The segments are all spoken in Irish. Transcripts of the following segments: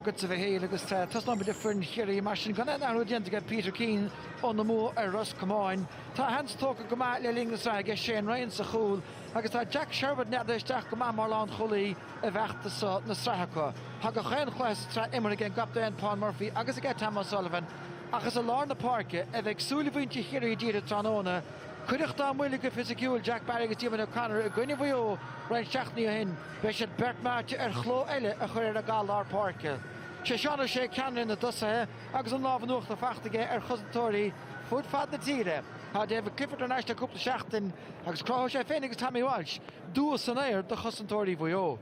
Agatsa, a Mhichíl, agus tosnóimid le foireann Chiarraí. Mar sin, gan aon athrú déanta ag Peter Keane óna mbua ar Ros Comáin. Tá a sheans tógtha go maith le linn na sraithe aige Shane Ryan sa chúl agus tá Jack Sherwood neadaithe isteach go maith mar lánchúlaí i bhfeachtas na sraithe acu. Tá gach aon chluiche sa tsraith imeartha ag an gcaptaen Paul Murphy agus ag Tom O'Sullivan ach is i lár na páirce a bheidh súile mhuintir Chiarraí dírithe tráthnóna. Cuireadh dá mbuille go fisiciúil Jack Barry agus Diarmuid O'Connor i gcoinne Mhaigh Eo roinnt seachtainí ó shin. Beidh siad beirt meáite ar chló eile a chur ar an gcath lár páirce. Sé Seán Ó Sé ceannaire na dtosaithe agus an lámh in uachtar faighte aige ar chosantóirí fud fad na tíre. Tá David Clifford thar n-ais le cúpla seachtain agus cruthóidh sé féin agus Tommy Walsh dua san aer do chosantóirí Mhaigh Eo.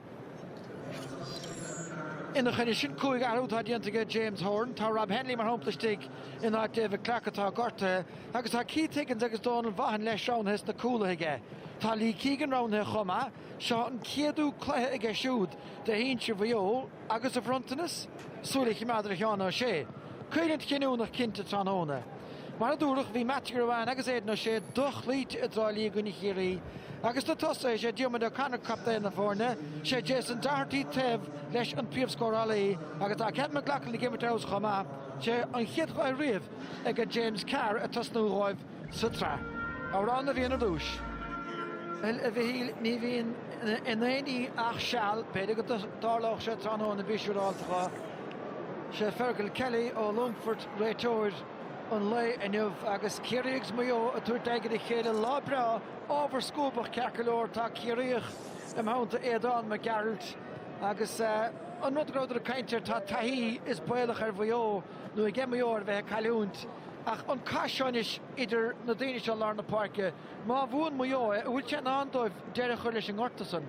Ina choinne sin, cúig athrú atá déanta aige James Horan. Tá Rob Hennelly mar shampla istigh in áit David Clarke atá gortaithe agus tá Keith Higgins agus Donal Vaughan leis roghnaithe sna cúlaithe aige. Tá Lee Keegan roghnaithe chomh maith. Seo an céadú cluiche aige siúd do shinsir Mhaigh Eo agus a bhronntanas súil a choimeád ar Sheán O'Shea. Coimhlint chinniúnach cinnte tráthnóna. Mar a dúradh, bhí Mattie Ruane agus Aidan O'Shea do-chloíte i dTrá Lí i gcoinne Chiarraí agus sna tosaithe is é Diarmuid O'Connor captaen na foirne, is é Jason Doherty taobh leis an príomhscórálaí agus tá Kevin McLoughlin ag imirt ar fheabhas chomh maith. Sé an chéad chluiche riamh ag James Carr ag tosnú dhóibh. sa tsraith. Amhrán na bhFiann ar dtúis. Bhuel, a Mhichíl, ní bhíonn in aon ní ach seal. B'fhéidir go dtarlódh sé tráthnóna, bí siúráilteacha. Sé Fergal Kelly ó Longfort réiteoir an lae inniu agus Ciarraí agus Maigh Eo ag tabhairt aghaidh ar a chéile. Lá breá, ábhar scuabach ceart go leor. Tá Ciarraíoch i mo theannta, Aodhán Mac Gearailt, agus an rud go rabhadar ag caint air, tá taithí is baolach ar Mhaigh Eo. nó aige Maigh Eo ar bheith ag cailliúint ach an cath seo anois idir na daoine seo i lár na páirce. Má bhuann Maigh Eo é, an bhfuil sé i ndán dóibh deireadh a chur leis an ngorta san?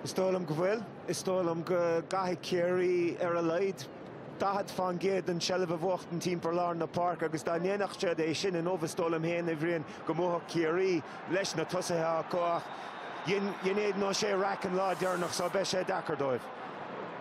Is dóigh liom go bhfuil. Is dóigh liom go gcaithfidh Ciarraí ar a laghad 40 fán gcéad den tseilbh a bhuachtaint timpeall lár na páirce agus dá ndéanfadh siad é sin inniu, is dóigh liom féin, a Bhriain, go mbuafadh Ciarraí leis na tosaithe acu ach dhein Aidan O'Shea raic an lá deireanach so beidh sé deacair dóibh.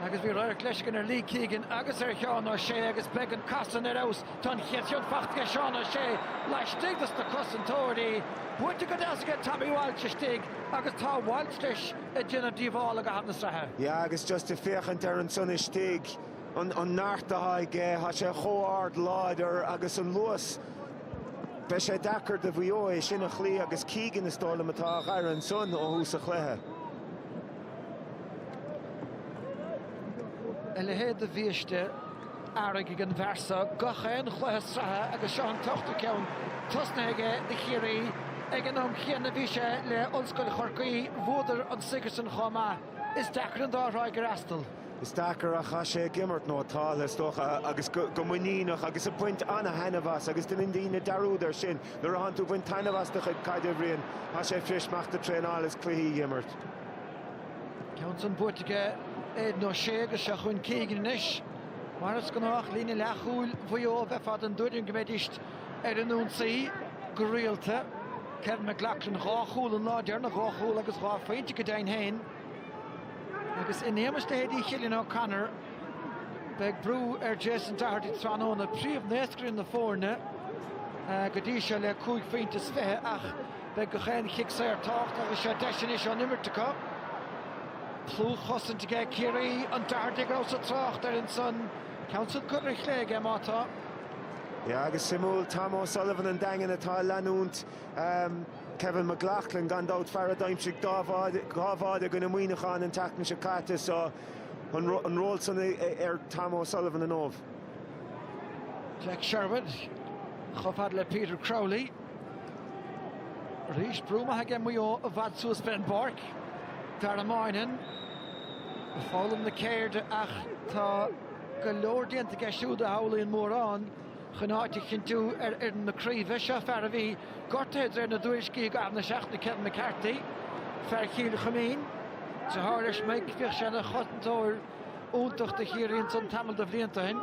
Agus bhí radharc leis againn ar Lee Keegan agus ar Sheán O'Shea agus beidh an cath san ar fheabhas. Tá an chéad cheann faighte ag Seán O'Shea laistigh dos na cosantóirí. Buaite go deas aige Tommy Walsh istigh agus tá Walsh leis ag déanamh díobhála i gcaitheamh na sraithe. Yeah agus just ag féachaint air ansan istigh, an an neart atá aige, tá sé chomh ard láidir agus an luas, beidh sé deacair do Mhaigh Eo é sin a chloí agus Keegan is dóigh liom atá á fhaire ansan ó thús an chluiche. A leithéid de bhiaiste earraigh ag an bhfear so gach aon chluiche sraithe agus seo an t-ochtú ceann tosnaithe aige do Chiarraí. Ag an am chéanna bhí sé le Ollscoil Chorcaí, bhuadar an Sigerson chomh maith. Is deacair an dá thráigh a fhreastal. Is deacair ach tá sé ag imirt, nó tá, is dócha, agus go muiníneach agus ag baint ana-thaitneamh as agus deineann daoine dearúd air sin. Nuair athánn tú ag baint taitneamh as do chuid caide, a Bhriain, tá sé fuirist imeacht ag traenáil is cluichí a dh'imirt. Ceann san buaite aige Aidan O'Shea agus seo chugainn Keegan anois. Mar is gnách líne leathchúil Mhaigh Eo bheifeá den tuairim go mbeidís ar an ionsaí go rialta. Kevin McLoughlin dhá chúl an lá deireanach, dhá chúl agus dhá phointe go deimhin féin. Agus in éagmais leithéidí Chillian O'Connor beidh brú ar Jason Doherty tráthnóna, príomhnaoscaire na foirne go dtí seo le cúig phointe is fiche ach Beidh gach aon chic saor tábhachtach agus seo deis anois ón imirt acu. Dlúthchosaint aige Ciarraí, an Doherty go rabhas ag trácht air ansan, ceann san curtha ar chlé aige má tá. Yeah, agus suimiúil, Tom O'Sullivan an Daingin atá ag leanúint um, Kevin McLaughlin gan dabht fear a d'aimsigh dhá bháide i gcoinne Muineacháin an tseachtain seo caite so an, an ról san ar Tom O'Sullivan inniu. Jack Sherwood, chomh fad le Peter Crowley. Arís brú maith aige Maigh Eo i bhfad suas fén bpáirc. Dara Moynihan ag foghlaim na ceirde ach tá go leor déanta aige siúd a shamhlaíonn mórán chun áit a chinntiú ar fhoireann na craoibhe. Seo fear a bhí gortaithe de réir na dtuairiscí i gcaitheamh na seachtaine, Kevin McCarthy, fear Chill Chuimín. Deartháir leis Mike, bhíodh sé ina chosantóir. iontach do Chiarraí ansan tamall de bhlianta ó shin.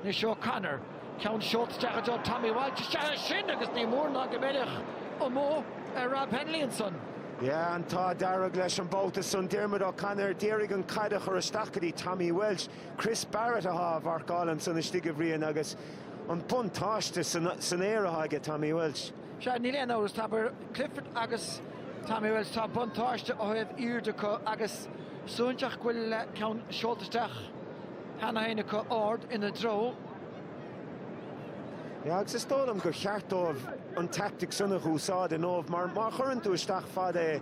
Anois O'Connor, ceann seolta isteach i dtreo Tommy Walsh, isteach é sin agus ní mór ná go mbeadh dul amú ar Rob Hennelly ansan. Yeah, an t-ádh dearg leis an babhta san Diarmuid O'Connor d'iarraidh an caid a chur isteach go dtí Tommy Walsh. Chris Barrett athá á mharcáil ansan istigh a Bhriain agus an buntáiste san aer athá aige Tommy Walsh. Sea, níl aon amhras, tá idir Clifford agus Tommy Walsh, tá buntáiste ó thaobh airde acu agus suaithinseach go bhfuil ceann seolta isteach cheana féin acu, ard ina dtreo. Yeah, agus is dóigh liom gur cheart dóibh an teaictic sin a úsáid inniu mar má chuireann tú isteach fada é,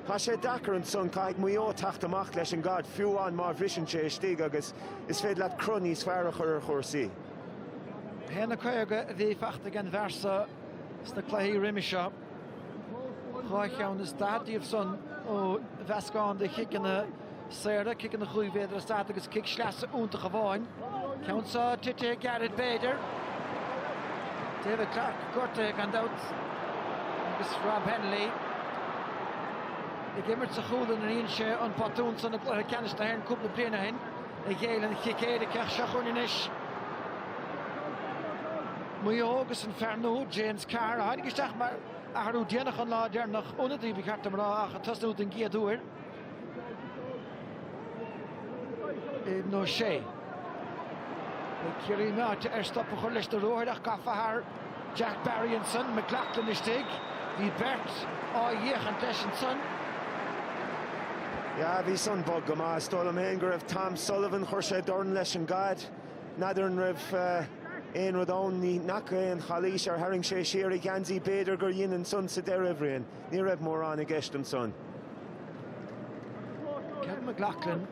tá sé deacair ansan, caithfidh Maigh Eo teacht amach leis an gcaid, fiú amháin má bhriseann sé istigh agus is féidir leat cruth níos fearr a chur ar chúrsaí. Féach na caoga a bhí faighte ag an bhfear so sna cluichí roimis seo, dhá cheann is daichead díobh san ó mheascán de chiceanna saora, ciceanna chúig mhéadar is daichead agus cic sleasa iontach amháin. Ceann so titithe ag Gareth b'fhéidir. David Clarke gortaithe gan dabht agus Rob Hennelly ag imirt sa chúl. Dhein sé an botún san i gcluiche ceannais na hÉireann cúpla bliain ó shin. a ghéill an cic éirice. Seo chugainn anois. Maigh Eo agus an fear nua, James Carr, a tháinig isteach mar athrú déanach an lá deireanach, ionadaí ba cheart dom a rá, ach ag tosnú den gcéad uair. Aidan O'Shea. Ciarraí meáite ar stop a chur leis na ruathair ach gafa thar Jack Barry ansan, McLaughlin istigh. Bhí beirt ag féachaint leis ansan. Yeah, bhí san bog go maith. Is dóigh liom féin go raibh Tom Sullivan, chuir sé dorn leis an gcaid. N'fheadar an raibh aon rud ann, ní fhaca aon chalaois, ar tharraing sé siar a gheansaí, b'fhéidir gur dhein ansan sa deireadh, a Bhriain? Ní raibh mórán i gceist ansan. Kevin McLoughlin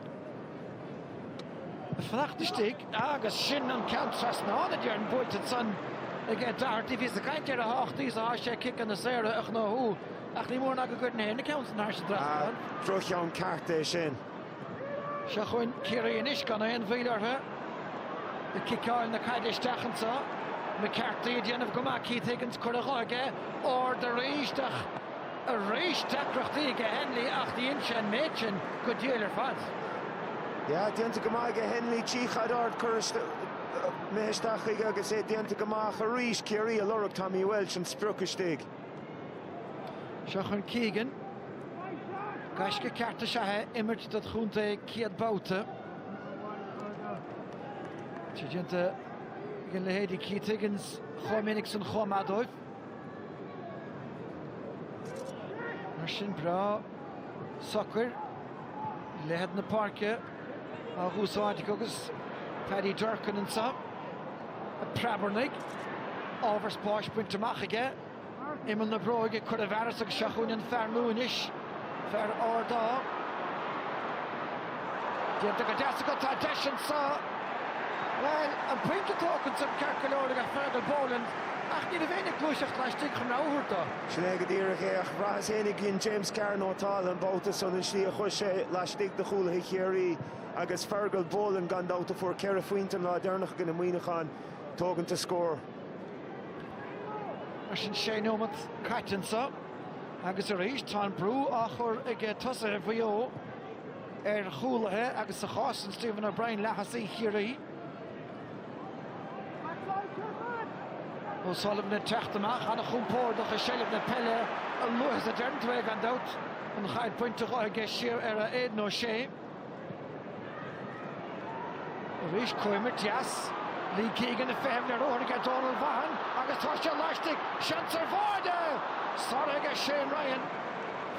ag fanacht istigh agus sin an ceann trasna ná téann buailte ansan ag Doherty. Bhíos ag caint ar a thábhachtaí is atá sé ciceanna saora a ghnóthú ach ní mór ná go gcuireann sé na ceanna san thar an trasnán. Droch-cheann ceart é sin. Seo chugainn Ciarraí anois gan aon mhoill orthu ag ciceáil na caide isteach anseo. McCarthy ag déanamh go maith, Keith Higgins curtha de aige, ard arís isteach arís deacrachtaí aige Hennelly ach dhein sé an méid sin go diail ar fad. Yeah déanta go maith aige Hennelly, chíonn tú caid ard curtha isteach chuige agus é déanta go maith ach arís Ciarraí ag lorg Tommy Walsh an sprioc istigh. Seo chugainn Keegan. Gaisce ceart is ea é imirt dod' chontae céad babhta. É déanta aige leithéidí Keith Higgins chomh minic san chomh maith dóibh. Mar sin breá socair leithead na páirce. á úsáid acu agus Paddy Durcan anseo ag preabarnaigh. Ábhar spáis bainte amach aige. Imeall na bróige curtha i bhfearas agus seo chugainn an fear nua anois, fear ard é. Déanta go deas aige, tá deis anseo. Bhuel, an pointe tógtha ansan ceart go leor aige Fergal Boland ach ní raibh éinne ag gluaiseacht laistigh chun rogha a thabhairt dó. Sin é go díreach é, ach bhraitheas éinne ag inn James Carr nó tál an babhta san, an tslí a chuir sé laistigh de chúlaithe Chiarraí agus Fergal Boland gan dabht a fuair ceithre phointe an lá deireanach i gcoinne Muineacháin, tógann scór. Mar sin sé nóimeat caite anseo agus arís tá an brú á chur ag tosaithe Mhaigh Eo ar chúlaithe agus sa chás sin Stephen O'Brien, leathosaí Chiarraí. O'Sullivan ag teacht amach an-chompordach i seilbh na peile a luaithe is a deireann tú é, gan dabht. An chaid bainte dhó, dhá siar ar Aidan O'Shea. Arís cóimirt dheas. Lee Keegan ag feitheamh leis. Ruathar aige Donal Vaughan agus tá sé laistigh. Seans ar bháide! Sáraithe aige Shane Ryan.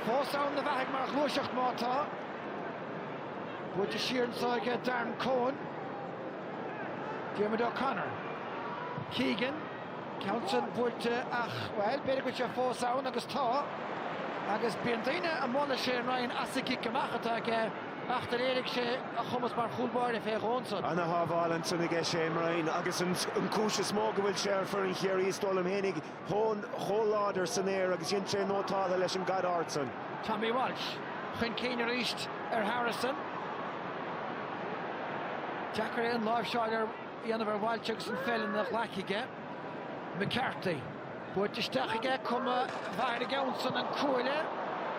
Fós ina bheathaidh mar ghluaiseacht má tá. Buailte siar anseo aige Darren Coen. Diarmuid O'Connor. Keegan, ceann san buailte ach, bhuel, b'fhéidir go bhfuil sé fós ann agus tá. Agus bíonn daoine ag moladh Shane Ryan as an gcic amach atá aige ach do léirigh sé a chumas mar chúl báire fé dhó ansan. Ana shábháil ansan aige Shane Ryan agus an chúis is mó go bhfuil sé ar fhoireann Chiarraí is dóigh liom fhéinig, Tá an chomh láidir san aer agus dhein sé nótáltha leis an gcaid ard san. Tommy Walsh chun cinn arís ar Harrison. Deacair aon láimhseáil a dhéanamh ar Walsh agus an pheil ina ghlaic aige. McCarthy. Buailte isteach aige cuma mhaith ar an gceann san. An cuaille.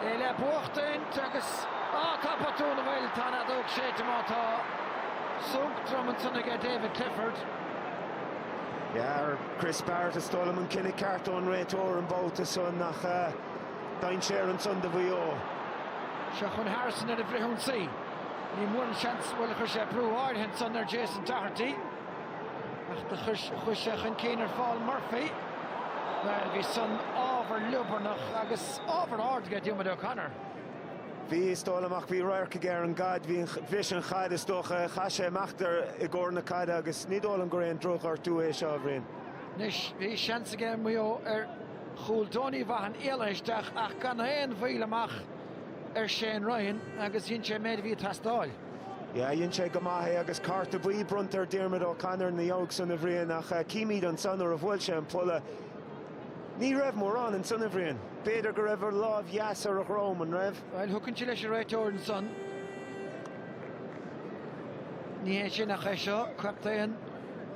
É le buachtaint agus ó tá botún, an bhfuil, tá an fheadóg séite má tá. Sonc trom ansan aige David Clifford. Yeah, Chris Barrett, is dóigh liom, an cinneadh ceart ón réiteoir an babhta san ach dainséar ansan do Mhaigh Eo. Seo chun Harrison ar an bhfrithionsaí. Ní mór an seans, bhuel, chuir sé brú áirithe ansan ar Jason Doherty. Ach do chuir sé chun cinn ar Phaul Murphy. Bhuel, bhí san ábhar liobarnach agus ábhar ard aige Diarmuid O'Connor. Bhí, is dóigh liom, ach bhí radharc aige ar an gcaid, bhí, bhris an chaid is dócha, chaith sé imeacht i gcomhair na caide agus ní dóigh liom gur aon drochghortú é seo, a Bhriain. Anois, bhí seans aige Maigh Eo ar chúl, Donie Vaughan éalaithe isteach ach gan aon mhoill amach ar Shane Ryan agus dhein sé an méid a bhí ag teastáil. Yeah, dhein sé go maith é agus cárta buí bronnta ar Diarmuid O'Connor ina dhiaidh san, a Bhriain, ach címid ansan nuair a bhuail sé an polla. Ní raibh mórán ansan, a Bhriain. B'fhéidir go raibh a lámh dheas ar a dhrom, an raibh? Bhuel, tugann sé leis an réiteoir ansan. Ní hé sin ach é seo, captaen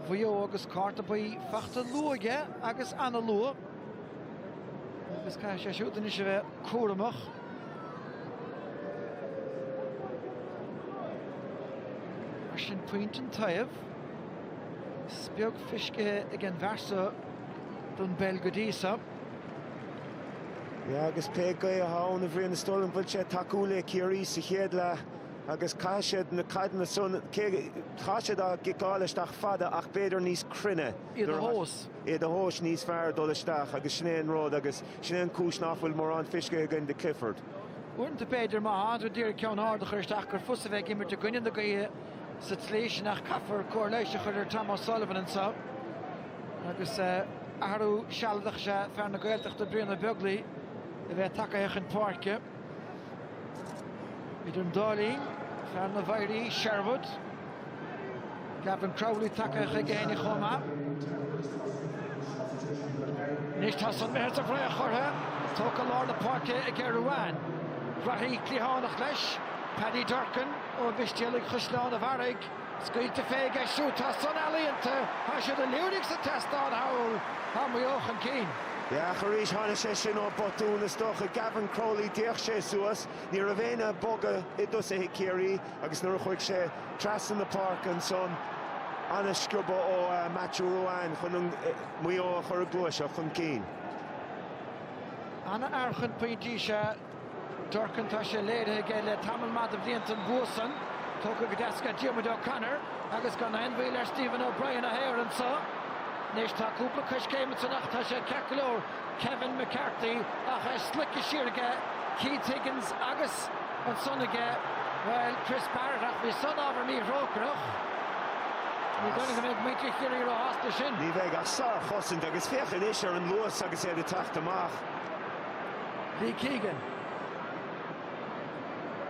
Mhaigh Eo agus cárta buí faighte luath aige agus an-luath. Agus caithfidh sé siúd anois a bheith cúramach. Mar sin, pointe an taobh. Is beag feiscithe ag an bhfear seo. don bpeil go dtí seo. Agus pé gaoth atá ann a Bhriain, is dóigh liom go bhfuil sé ag tacú le Ciarraí sa chéad leath agus caithfidh siad na caideanna san, caithfidh siad a gciceáil isteach fada ach b'fhéidir níos cruinne iad a thomhas. Iad a thomhas níos fearr dul isteach agus sin é an rud agus sin é an cúis nach bhfuil mórán feiscthe againn do Clifford. Uaireanta b'fhéidir má tá tú d'iarraidh ceann ard a chur isteach gur fusa bheith ag imirt i gcoinne na gaoithe sa tslí sin ach caithfear cóir leighis a chur ar Tom O'Sullivan anseo. Agus athrú sealadach is ea fear na Gaeltachta Brian Ó Beaglaoi a bheith tagtha chun páirce. Idir an dá linn, fear na bhFoidhrí Sherwood, Gavin Crowley tagtha chuige féin chomh maith. Anois tá san imithe sa bhfraoch orthu, tógtha lár na páirce aige Ruane. Reathaí cliathánach leis, Paddy Durcan ó Mhistéalaigh Chaisleán an Bharraigh. Scaoilte fé aige siúd, tá san ealaíonta. Tá siad ag liúirigh sa tseastán thall. Tá Maigh Eo chun cinn. Yeah, ach arís, tháinig sé sin ó botún is dócha. Gavin Crowley, d'fhéach sé suas, ní raibh éinne ag bogadh i dtosaithe Ciarraí agus nuair a chuaigh sé trasna na páirce ansan, an-sciobadh ó Matthew Ruane chun Maigh Eo a chur ag gluaiseacht chun cinn. An-fhear chun pointí is ea Durcan, tá sé léirithe aige le tamall maith do bhlianta an bua san, tógtha go deas ag Diarmuid O'Connor agus gan aon mhoill ar Stephen O'Brien a shaor anso. Anois tá cúpla coiscéim ansan ach tá sé ceart go leor, Kevin McCarthy, ach é sloigthe siar aige Keith Higgins agus ansan aige, bhuel, Chris Barrett ach bhí san ábhar míthrócaireach. Ní dóigh liom go mbeidh muintir Chiarraí ró-shásta leis sin. Ní bheidh ach sár-chosaint agus féach anois ar an luas agus iad ag teacht amach. Lee Keegan.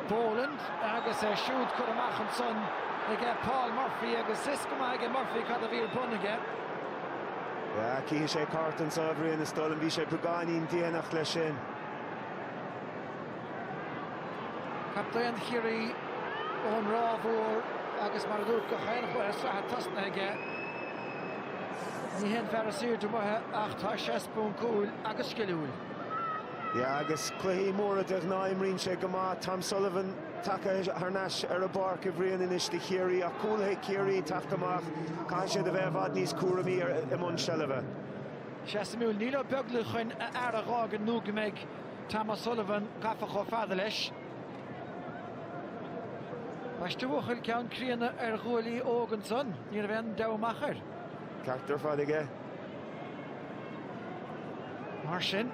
Boland agus é siúd curtha amach ansan aige Paul Murphy agus fios go maith aige Murphy cad a bhí ar bun aige. Cífidh sé cárta anso a Bhriain is dóigh liom bhí sé beagáinín déanach leis sin. Captaen Chiarraí ón Ráth Mhór agus mar a dúirt gach aon chluiche sa tsraith tosnaithe aige. Ní hé an fear is aoirde amuigh é ach tá sé spúncúil agus sciliúil. Yeah agus cluichí móra de ghnáth imríonn sé go maith. Tom Sullivan tagtha thar n-ais ar an bpáirc a Bhriain anois do Chiarraí ach cúlaithe Ciarraí teacht amach, caithfidh siad a bheith i bhfad níos cúramaí ar i mbun seilbhe. Sea, suimiúil, níl Ó Beaglaoich chun a fhear a dh'fhágaint nó go mbeidh Tom O'Sullivan gafa chomh fada leis. Baisteadh buachaill ceann críonna ar ghuaillí óga ansan. Ní raibh aon deabhadh amach air. Ceart ar fad aige. Mar sin,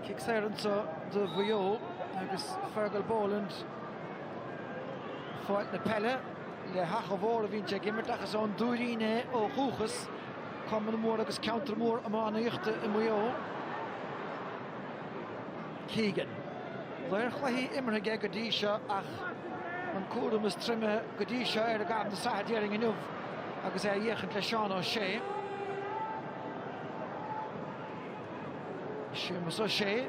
cic saor anso do Mhaigh Eo agus Fergal Boland ag fáilt na peile le hAchadh Mór a bhíonn sé ag imirt ach is ón Tuairín é ó dhúchas, cumann mór agus ceantar mór iománaíochta i Maigh Eo. Keegan. Dea-chluichí imeartha aige go dtí seo ach an cúram is troime go dtí seo air i gcaitheamh na sraithe déarfainn inniu agus é á fhéachaint le Seán O'Shea. Séamus O'Shea.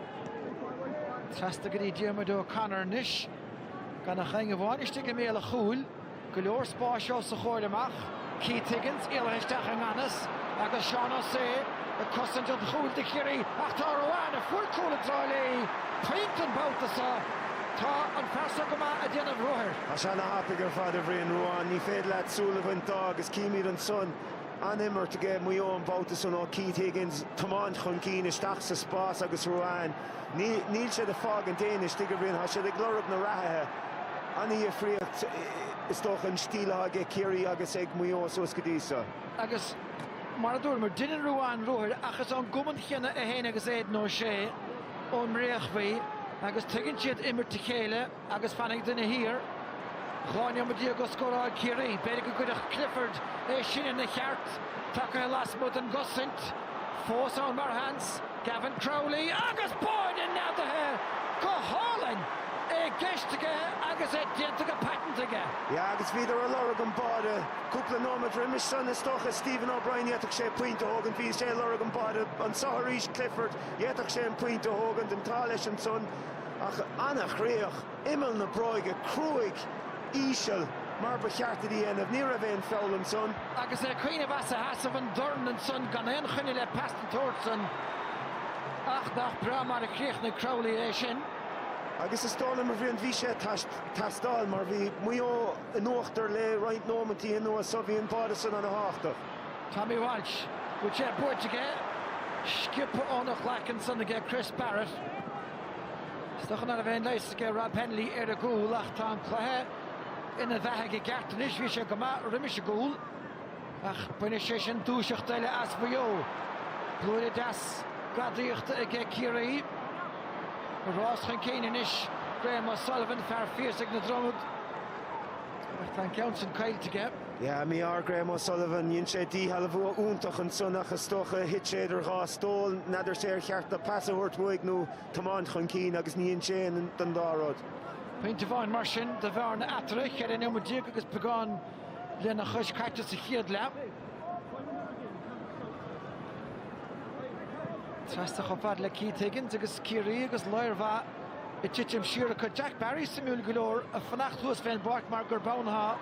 Trasna go dtí Diarmuid O'Connor anois. Gan ach éinne amháin istigh i mbéal a chúil. Go leor spáis os a chomhair amach, Keith Higgins éalaithe isteach i nganfhios agus Seán O'Shea ag cosaint an chúil do Chiarraí ach tá Ruane, a fuair cúl i dTrá Lí, pointe an babhta seo. Tá an fear seo go maith ag déanamh ruathair. Tá sé ana thapaidh ar fad, a Bhriain, Ruane. Ní féidir leat súil a bhaint de agus címid ansan an-imirt aige Maigh Eo an babhta san ó Keith Higgins, tiomáint chun cinn, isteach sa spás agus Ruane, Níl siad ag fágaint éinne istigh, a Bhriain. Tá siad ag lorg na reathaithe. An-dhifríocht is dócha an stíl atá aige Ciarraí agus ag Maigh Eo suas go dtí seo. Agus mar a dúramar, deineann Ruane ruathair ach is ón gcumann chéanna é féin agus Aidan O'Shea ón mBréachmhaigh agus tuigeann siad imirt a chéile. Agus fanfaidh duine thiar dhá neomat déag ó scóráil Ciarraí. B'fhéidir go gcuirfeadh Clifford é sin ina cheart. Tagtha lasmuigh den gcosaint. Fós ann mar sheans. Gavin Crowley agus báide neadaithe go hálainn! É i gceist aige agus é déanta go paiteanta aige. Yeah agus bhíodar a' lorg an báide cúpla nóimeat roimis san. Is dócha Stephen O'Brien d'fhéadfadh sé pointe a thógaint. Bhí sé a' lorg an báide anseo arís, Clifford, d'fhéadfadh sé an pointe a thógaint. An t-ádh leis ansan. Ach an-chríoch, imeall na bróige cruaidh íseal mar ba cheart duit a dhéanamh. Ní raibh aon feall ansan. Agus é ag cuimhneamh as a sheasamh an dorn ansan gan aon choinne le pas den tsórt san. Ach nach breá mar a chríochnaigh Crowley é sin. Agus is dóigh liom a Bhriain bhí sé ag teastáil mar bhí Maigh Eo in uachtar le roinnt nóimintí anuas só bhí an báide san ana thábhachtach. Tommy Walsh, bhfuil sé buaite aige, sciobtha óna ghlaic ansan aige Chris Barrett. Is dócha ná raibh aon leigheas aige Rob Hennelly ar an gcúl ach tá an cluiche ina bheathaidh i gceart anois. Bhí sé go maith roimis an gcúl ach bainfidh sé sin dúiseacht eile as Maigh Eo. Blúire deas gadaíochta aige Ciarraí. Ag rás chun cinn anois Graham O'Sullivan, fear Phiarsaigh na Dromoda, ach tá an ceann sin caillte aige. Yeah, mhuise ar Graham O'Sullivan, dhein sé díshealbhú iontach ansan ach is dócha gur thit sé idir dhá stól, n'fheadar sé ar cheart do pas a thabhairt uaidh nó tiomáint chun cinn agus ní dhein sé aon den dá rud. Pointe amháin mar sin do bhearna eatarthu, cheithre nóiméad déag agus beagán lena chois caite sa chéad leath. Trasna chomh fad le Keith Higgins agus Ciarraí agus láir mhaith Ag titim siar acu. Jack Barry suimiúil go leor a fanacht thuas fén bpáirc mar gurb ann atá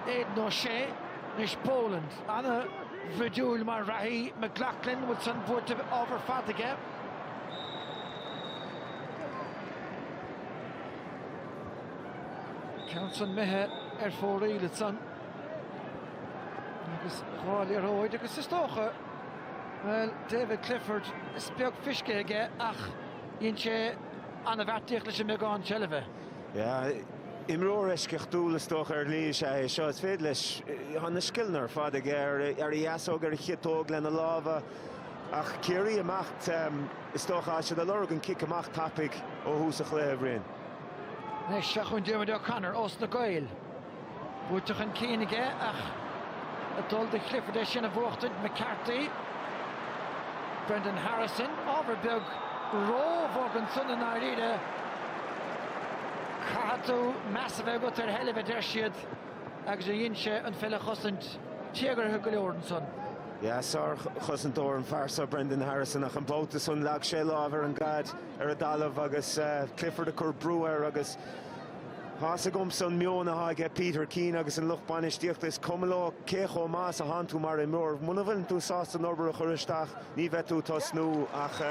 Aidan O'Shea. Anois Boland. Ana-bhroidiúil mar reathaí. McLaughlin, an bhfuil san buaite? Ábhar fada aige. Ceann san imithe ar fóraoil ansan. Agus dhá liathróid agus is dócha, bhuel, David Clifford, is beag fisce aige ach, Dhein sé ana-bheartaíocht leis an mbeagán seilbhe. Imreoir eisceachtúil is dócha ar shlí is ea é seo. Is féidir leis, tá na scileanna ar fad aige, ar a dheasóg, ar a chiotóg, lena lámha. Ach Ciarraí amach, is dócha, tá siad ag lorg an cic amach tapaidh ó thús an chluiche, a Bhriain. Anois, seo chugainn Diarmuid O'Connor ós na Gaeil. Buaite chun cinn aige ach ag dul do Clifford é sin a bhuachtaint. McCarthy, Brendan Harrison, ábhar beag róbhog ansan i ndáiríre. Caithfidh tú meas a bheith agat ar sheilbh a deir siad agus a dhein sé an pheil a chosaint tíogartha go leor ansan. Yeah, sár-chosantóir an fear san, Brendan Harrison, ach an babhta san leag sé láimh ar an gcaid ar an dtalamh agus Clifford ag cur brú air agus, Tá's agamsa an meon atá aige Peter Keane agus an lucht bainistíochta, is cuma leo cé chomh maith is a tánn tú mar imreoir. Muna bhfuileann tú sásta an obair a chur isteach ní bheidh tú tosnú ach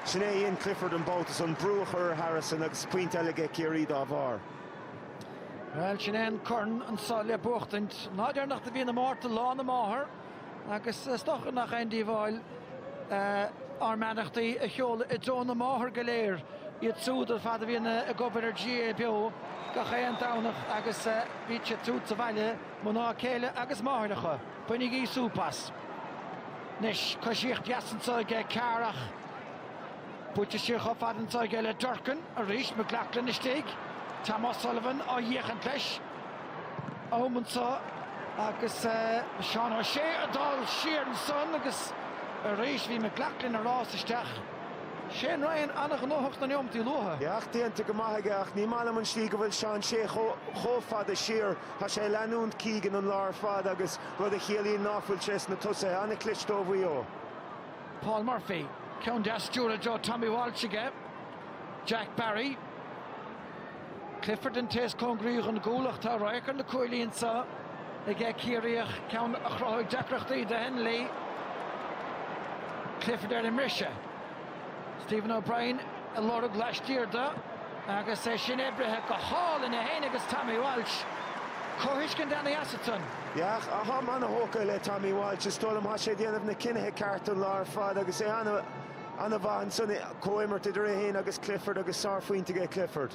sin é a dhein Clifford an babhta san, brú a chur ar Harrison agus pointe eile aige Ciarraí dá bharr. Bhuel, sin é an corn anso le buachtaint. An lá deireanach de mhí na Márta Lá na Máthar! Agus is dócha nach aon díobháil ár mbeannachtaí a sheoladh i dtreo na máthar go léir, iad siúd ar fad a bhíonn ag obair ar GAA Beo gach aon Domhnach agus díbhse ansúd sa bhaile, mná céile agus máithreacha, bainigí súp as. Anois, coisíocht dheas anseo ag Carr ach buailte siar chomh fada anseo aige le Durcan arís, McLaughlin istigh, Tom O'Sullivan á fhéachaint leis, ó am anso agus Seán O'Shea ag dul siar ansan agus arís bhí McLaughlin ag rás isteach. Shane Ryan ana-ghnóthach sna neomataí luatha. Yeah, éacht déanta go maith aige ach ní maith liom an slí go bhfuil Seán Shea chomh fada siar. Tá sé ag leanúint Keegan an lá ar fad agus rud a chiallaíonn ná fuil sé sna tosaithe. Ana-chliste ó Mhaigh Eo. Paul Murphy, ceann deas stiúrtha i dtreo Tommy Walsh aige. Jack Barry. Clifford an té is cóngaraí don gcúl ach tá radharc ar na cuaillí anso aige Ciarraíoch, ceann a chruthóidh deacrachtaí do Hennelly. Clifford ar an mbriseadh. Stephen O'Brien a lorg laistiar de agus é sin oibrithe go hálainn, é féin agus Tommy Walsh. Comhthuiscint ann eatarthu. Yeah, táim an-thógtha le Tommy Walsh. Is dóigh liom tá sé ag déanamh na cinnithe cearta an lá ar fad agus é an. an-mhaith ansan, comhimirt idir é féin agus Clifford agus sárphointe aige Clifford.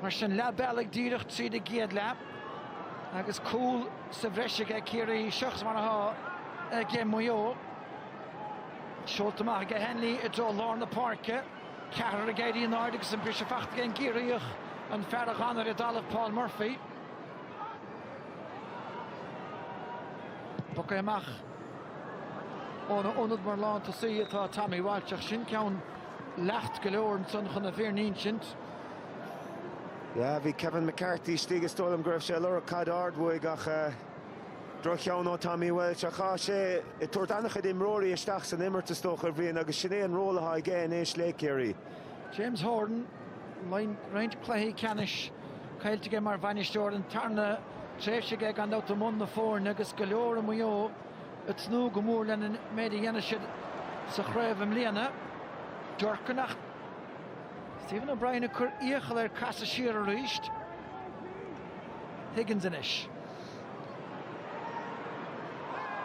Mar sin, leath bealaigh díreach tríd an gcéad leath agus cúl sa bhreis aige Ciarraí, seachas mar atá aige Maigh Eo. Seolta amach aige Hennelly i dtreo lár na páirce, ceathrar ag éirí in airde agus an briseadh fachta aige an gCiarraíoch, an fear a dh'fhan ar an dtalamh Paul Murphy. Bogtha amach. Óna ionad mar lántosaí atá Tommy Walsh ach sin ceann lag go leor ansan chun an fhírinne a insint. Yeah, bhí Kevin McCarthy istigh, is dóigh liom go raibh sé ag lorg caid ard uaidh ach droch-cheann ó Tommy Walsh. Ach tá sé ag tabhairt an-chuid imreoirí isteach san imirt is dócha, a Bhrian, agus sin é an ról atá aige anois le Ciarraí. James Horan, roinnt cluichí ceannais caillte aige mar bhainisteoir, an tarna tréimhse aige gan dabht i mbun na foirne agus go leor i Maigh Eo ag tnúth go mór lena méid a dhéanfaidh siad sa chraobh i mbliana. Durcan ach Stephen O'Brien ag cur iachall air casadh siar aríst. Higgins anois.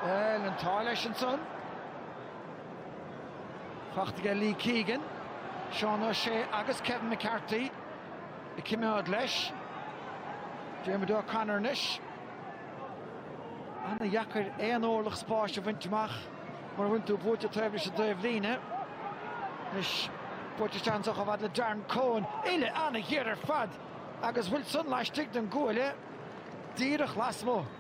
Bhuel, an t-ádh leis ansan. Fachta aige Lee Keegan, Seán O'Shea agus Kevin McCarthy ag coimeád leis. Diarmuid O'Connor anois. Ana dheacair aon órlach spáis a bhaint amach mura bhfanann tú buailte taobh leis an dtaobhlíne. Anois buailte isteach ansan chomh fada le Darren Coen. Uille ana ghéar ar fad agus an bhfuil san laistigh den gcuaille díreach lasmuigh.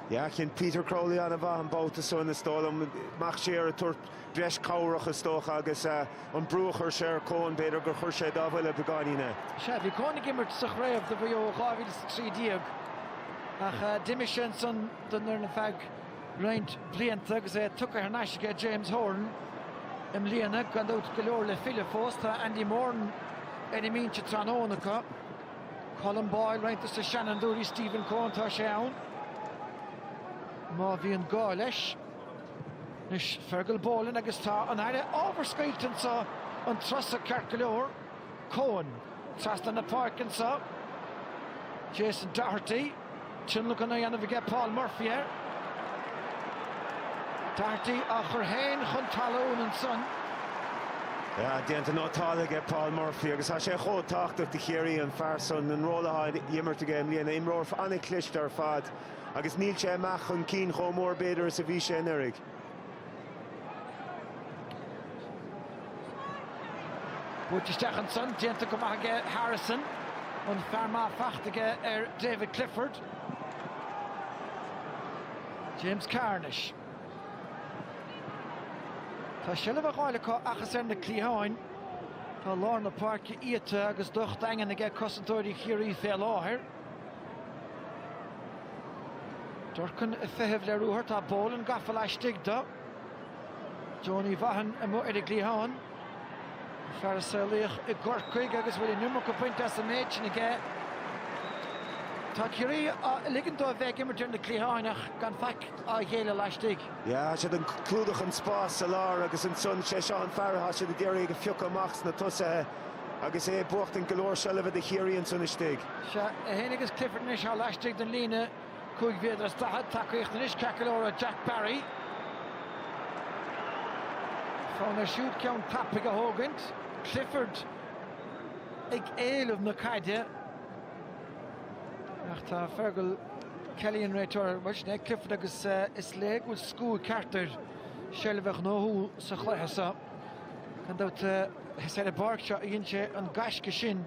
Yeah, dhein Peter Crowley an-mhaith an babhta san, is dóigh liom. Ach siar ag tabhairt breis cabhrach, is dócha, agus an brú a chuir sé ar Coen, b'fhéidir gur chuir sé dá bhuille beagáinín é. Sea, bhí Coen ag imirt sa chraobh do Mhaigh Eo i 2013 ach d'imigh sé ansan don fhoireann ar feadh roinnt blianta agus é tugtha thar n-ais aige James Horan i mbliana. Gan dabht, go leor le filleadh fós. Tá Andy Moran ar an mbinse tráthnóna acu. Colm Boyle roinnt dos na seanfhondúirí Stephen Coen tá sé ann má bhíonn gá leis. Anois Fergal Boland agus tá an Aire ábhar scoilt anseo an turas so ceart go leor. Coen trasna na páirce anseo. Jason Doherty. Tionlacan á dhéanamh aige Paul Murphy air. Doherty á chur féin chun talún ansan. Déanta go maith aige Paul Murphy agus tá sé chomh tábhachtach do Chiarraí an fear san, an ról atá á imirt aige i mbliana. Imreoir an-chliste ar fad agus níl sé amach chun cinn chomh mór b'fhéidir is a bhí sé anuraidh. Buaite isteach ansan, déanta go maith aige Harrison. An fearr maith fachta aige ar David Clifford. James Carnish. Tá seilbh á fháil acu ach is ar na cliatháin. Tá lár na páirce iata agus docht daingean aige cosantóirí Chiarraí fé láthair. Durcan ag feitheamh le ruathar, tá Boland gafa laistigh do Donie Vaughan amuigh ar an gcliathán. An fear a saolaíodh i gCorcaigh agus a bhfuil an iomarca déanta as an méid sin aige. Tá Ciarraí ag ligean dóibh a bheith ag imirt ar na cliatháin ach gan faic á ghéilleadh laistigh. Tá siad ag clúdach an spáis sa lár agus ansan sé seo an fear atá siad ag iarraidh a phiocadh amach sna tosaithe. Agus é ag buachtaint go leor seilbhe do Chiarraí ansan istigh. Sea, é fhéin agus Clifford anois tá laistigh den líne cúig mhéadar is daichead. Tacaíocht anois ceart go leor ó Jack Barry. Fonn air siúd ceann tapaidh a thógaint. Clifford ag éileamh na caide. Ach tá Fergal Kelly an réiteoir. Bhuel, sin é Clifford agus is léir go bhfuil scil cheart ar seilbh a ghnóthú sa chluiche seo. Gan dabht, is ar an bpáirc seo a dhein sé an gaisce sin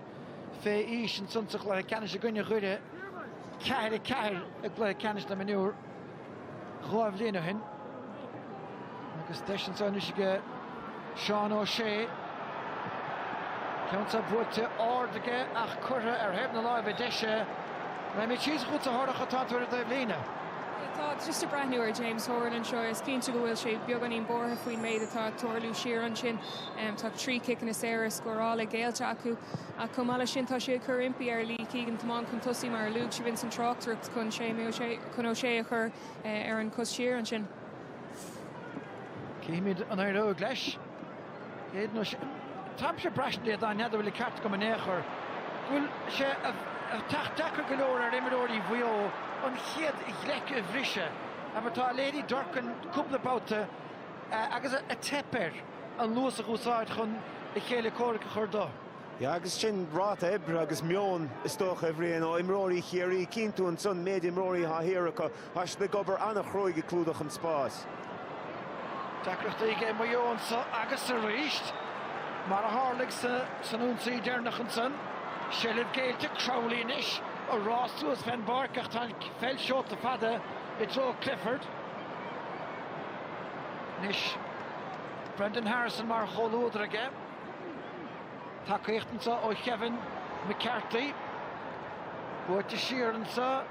fé aois ansan sa chluiche ceannais i gcoinne Dhoire, ceathair ceathair i gcluiche ceannais na mionúr dhá bhliain ó shin. Agus deis ansan anois aige Seán Ó Sé. Ceann so buailte ard aige ach curtha ar thaobh na láimhe deise. Raghaimid síos chugat a Dhara atá tú ar an taobh líne. Tá just ag breathnú ar James Horan anseo. Is cinnte go bhfuil sé beagáinín buartha faoin méid atá ag tarlú siar ansin. Tá trí ciceanna saora scóráil géillte acu. Ach chomh maith leis sin tá sé ag cur impí ar Lee Keegan tiomáint chun tosaigh, mar a luaigh sibh ins an tráchtaireacht, chun Séamie O'Shea, chun O'Shea a chur ar an chos siar ansin. Chífimid an éireoidh leis. Táimse ag braistint n'fheadar an bhfuil an ceart agam in aon chor go bhfuil sé ag teacht deacair go leor ar imreoirí Mhaigh Eo an chéad ghleic a bhriseadh, mar atá léirithe ag Durcan cúpla babhta agus a theip air an luas a úsáid chun a chéile comhraic a chur de. Yeah agus sin ráta oibre agus meon is dócha a Bhriain ó imreoirí Chiarraí. Cíonn tú ansan méid imreoirí atá thiar acu Tá siad ag obair an-chruaidh ag clúdach an spáis. Deacrachtaí aige Maigh Eo anseo agus arís, mar a tharlaigh san ionsaí deireanach ansan. Seilbh géillte Crowley anois ag rás suas fén bpáirc ach tá an pheil seolta fada i dtreo Clifford anois. Brendan Harrison mar chomhluadar aige. Tacaíocht anseo ó Kevin McCarthy. Buailte siar anseo.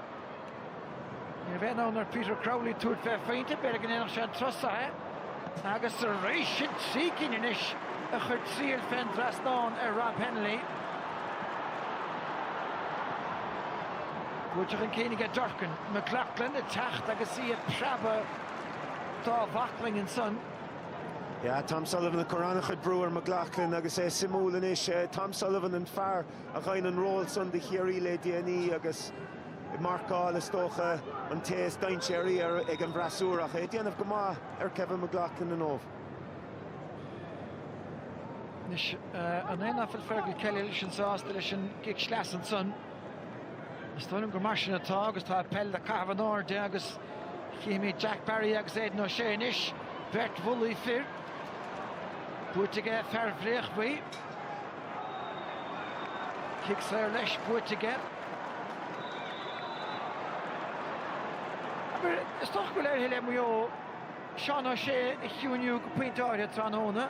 Ní bheidh fonn ar Peter Crowley tabhairt fé phointe, b'fhéidir go ndéanfadh sé an turas so. Agus arís sin trí cinn anois a chuir triail fén dtrasnán ar Rob Hennelly. Buailte chun cinn aige Durcan. McLoughlin ag teacht agus í ag preabadh dá bhaclainn ansan. Yeah, Tom Sullivan ag cur an-chuid brú ar McLoughlin agus é suimiúil anois, Tom Sullivan an fear a dhein an ról san do Chiarraí le déanaí agus, ag marcáil, is dócha, an té is dainséaraí ag an bhfreasúra ach é ag déanamh go maith ar Kevin McLoughlin inniu. Anois, an é nach bhfuil Fergal Kelly leis an, sásta leis an gcic sleasa ansan? Is dóigh liom gur mar sin atá agus tá peil le caitheamh in airde agus chífimid Jack Barry agus Aidan O'Shea anois, beirt bhulaí fir. Buaite aige fear Bhréachmhaí. Cic saor leis, buaite aige. Is dócha go bhfuil éirithe le Maigh Eo Seán O'Shea a chiúiniú go pointe áirithe tráthnóna.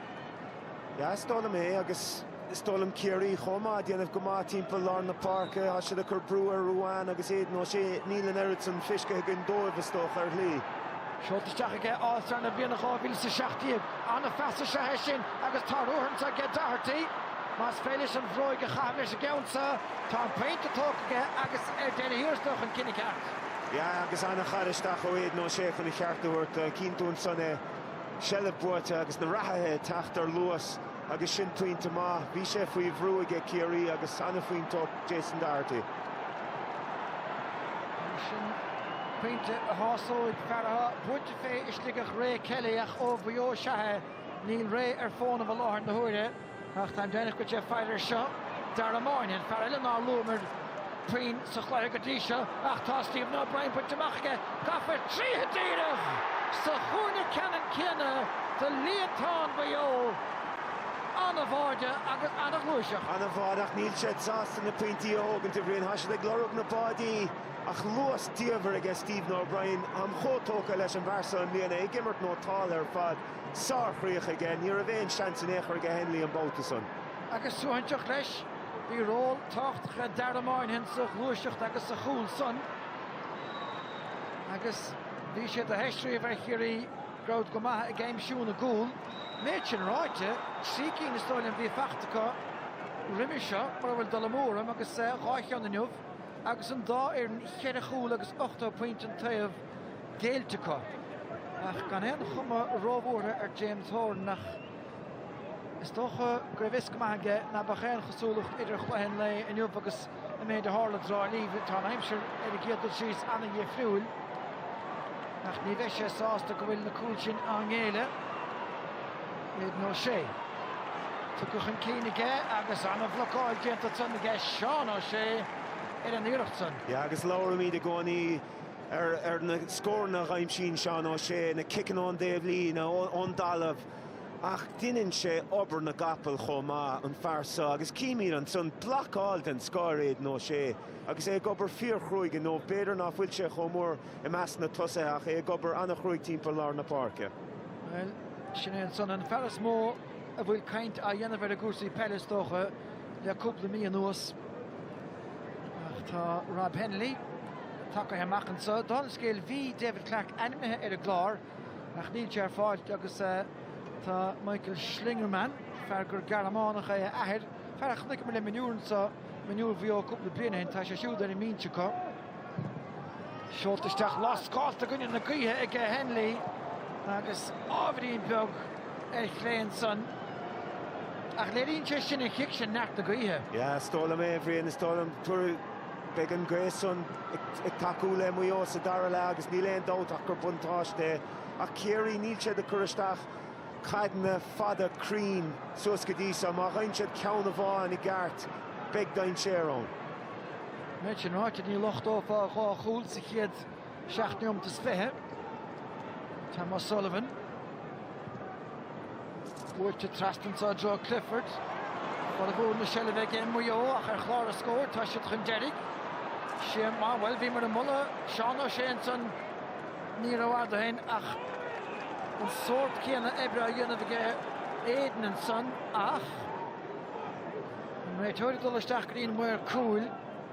Yeah, is dóigh liom é agus is dóigh liom Ciarraí chomh maith ag déanamh go maith timpeall lár na páirce, tá siad ag cur brú ar Ruane agus Aidan O'Shea, níl an oiread san fiscithe againn dóibh is dócha ar shlí. Seolta isteach aige All Star na bliana 2017. An-phas is ea é sin agus tá ruthag anseo aige Doherty. Más féidir leis an bhróig a chaitheamh leis an gceann so, tá an pointe tógtha aige agus ar deireadh thiar is dócha an cinneadh ceart. Yeah agus an-chur isteach ó Aidan O'Shea chun a cheart a thabhairt. Cinntiú ansan é, seilbh buaite agus na reathaithe ag teacht ar luas. Agus sin pointe maith. Bhí sé faoi bhrú aige Ciarraí agus an-phointe ó Jason Doherty. Pointe a shásóidh fear atá buailte fé i Sligeach Ray Kelly ach ó Mhaigh Eo is ea é. Níl Ray ar fónamh i láthair na huaire ach táim deimhneach go bhfuil sé ag faire air seo. Dara Moynihan, fear eile nár luamar, puinn sa chlár go dtí seo ach tá Stephen O'Brien bainte amach aige, gafa tríothu díreach sa chúinne ceannann céanna do líontán Mhaigh Eo. An-bháide agus an-ghluaiseacht. An-bháide ach níl siad sásta na pointí a thógaint, a Bhriain. Tá siad ag lorg na báidí ach luas diamhair aige Stephen O'Brien. Táim chomh tógtha leis an bhfear seo i mbliana, é ag imirt nótáltha ar fad. Sárchríoch aige. Ní raibh aon seans in aon chor aige Hennelly an babhta san. Agus suaithinseach leis. Bhí ról tábhachtach ag Dara Moynihan sa ghluaiseacht agus sa chúl san agus bhí sé de theist riamh ar Chiarraí go raibh siad go maith ag aimsiú na gcúl. An méid sin ráite, trí cinn is dóigh liom a bhí faighte acu roimhe seo, mura bhfuil dul amú orm, agus dhá cheann inniu agus an dá fhoireann cheithre chúl agus 8 pointe an taobh géillte acu. Ach gan aon chuma róbhuartha ar James Horan nach. Is dócha go raibh fhios go maith aige ná beadh aon chosúlacht idir chluiche an lae inniu agus an méid a tharla i dTrá Lí. Tá an aimsir ar an gcéad dul síos ana-dhifriúil ach ní bheidh sé sásta go bhfuil na cúil sin á ngéilleadh. Aidan O'Shea. Tugtha chun cinn aige agus ana-bhlocáil déanta san aige Seán O'Shea ar an iarracht san. Yeah agus labhraímid i gcónaí ar na scóranna a aimsíonn Seán O'Shea, na ciceanna ón dtaobhlíne, ón dtalamh. Ach deineann sé obair na gcapall chomh maith, an fear seo, agus címid ansan blocáil den scoth ar Aidan O'Shea agus é ag obair fíorchruaidh, nó b'fhéidir nach bhfuil sé chomh mór i measc na tosaithe ach é ag obair ana-chruaidh timpeall lár na páirce. Bhuel, sin é ansan an fear is mó a bhfuil caint á dhéanamh air i gcúrsaí peile, is dócha, le cúpla mí anuas. Ach tá Rob Hennelly tagtha amach anso. Dála an scéil, bhí David Clarke ainmnithe ar an gclár. ach níl sé ar fáilt agus tá Michael Schlingermann, fear gur Gearmánach é a athair, fear a chonaic mé le mionúir anso, mionúir Mhaigh Eo cúpla bliain ó shin, tá sé siúd ar an mbinse acu. Seolta isteach lascáilte i gcoinne na gaoithe aige Hennelly agus ábhairín beag ar chlé ansan, ach léiríonn sé sin an chic sin, neart na gaoithe. Yeah, is dóigh liom é, a Bhriain, is dóigh liom. Beidh an ghaoth san ag tacú le Maigh Eo sa dara leath agus níl aon dabht ach gur buntáiste é. Ach Ciarraí, níl siad ag cur isteach caideanna fada cruinn suas go dtí seo. Má dheineann siad ceann amháin i gceart, beidh dainséar ann. Méid sin ráite, ní locht, ó, fós dhá chúl sa chéad Seacht neomat is fiche. Tom O'Sullivan. Buailte trasna ansan i dtreo Clifford. Formhór na seilbhe aige Maigh Eo ach ar chlár na scór tá siad chun deiridh. Séamie, bhuel bhíomar ag moladh Seán Ó Sé ansan ní rófhada ó shin ach an sórt céanna oibre á dhéanamh aige Aidan ansan ach an réiteoir ag dul isteach go dtí an maor cúil.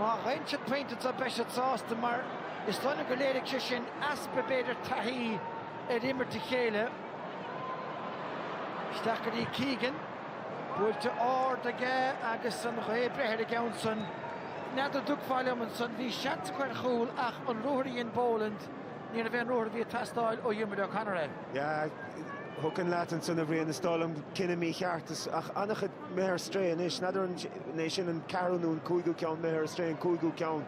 Má gheibheann siad pointe beidh siad sásta mar. Is dóigh liom go léirigh sé sin easpa b'fhéidir taithí ar imirt le chéile. Isteach go dtí Keegan. Buailte ard aige agus an ghaoth ag breith ar an gceann san. N'fheadar an dtiocfá liom ansan bhí seans acu ar chúl ach an ruathar a dhein Boland níorbh é an ruathar a bhí ag teastáil ó Dhiarmuid O'Connor é. Yeah, thiocfainn leat ansan a Bhriain is dóigh liom cinneadh mícheart ach an-chuid. imithe ar strae anois. N'fheadar an é sin an ceathrú nó an cúigiú ceann imithe ar strae, an cúigiú ceann.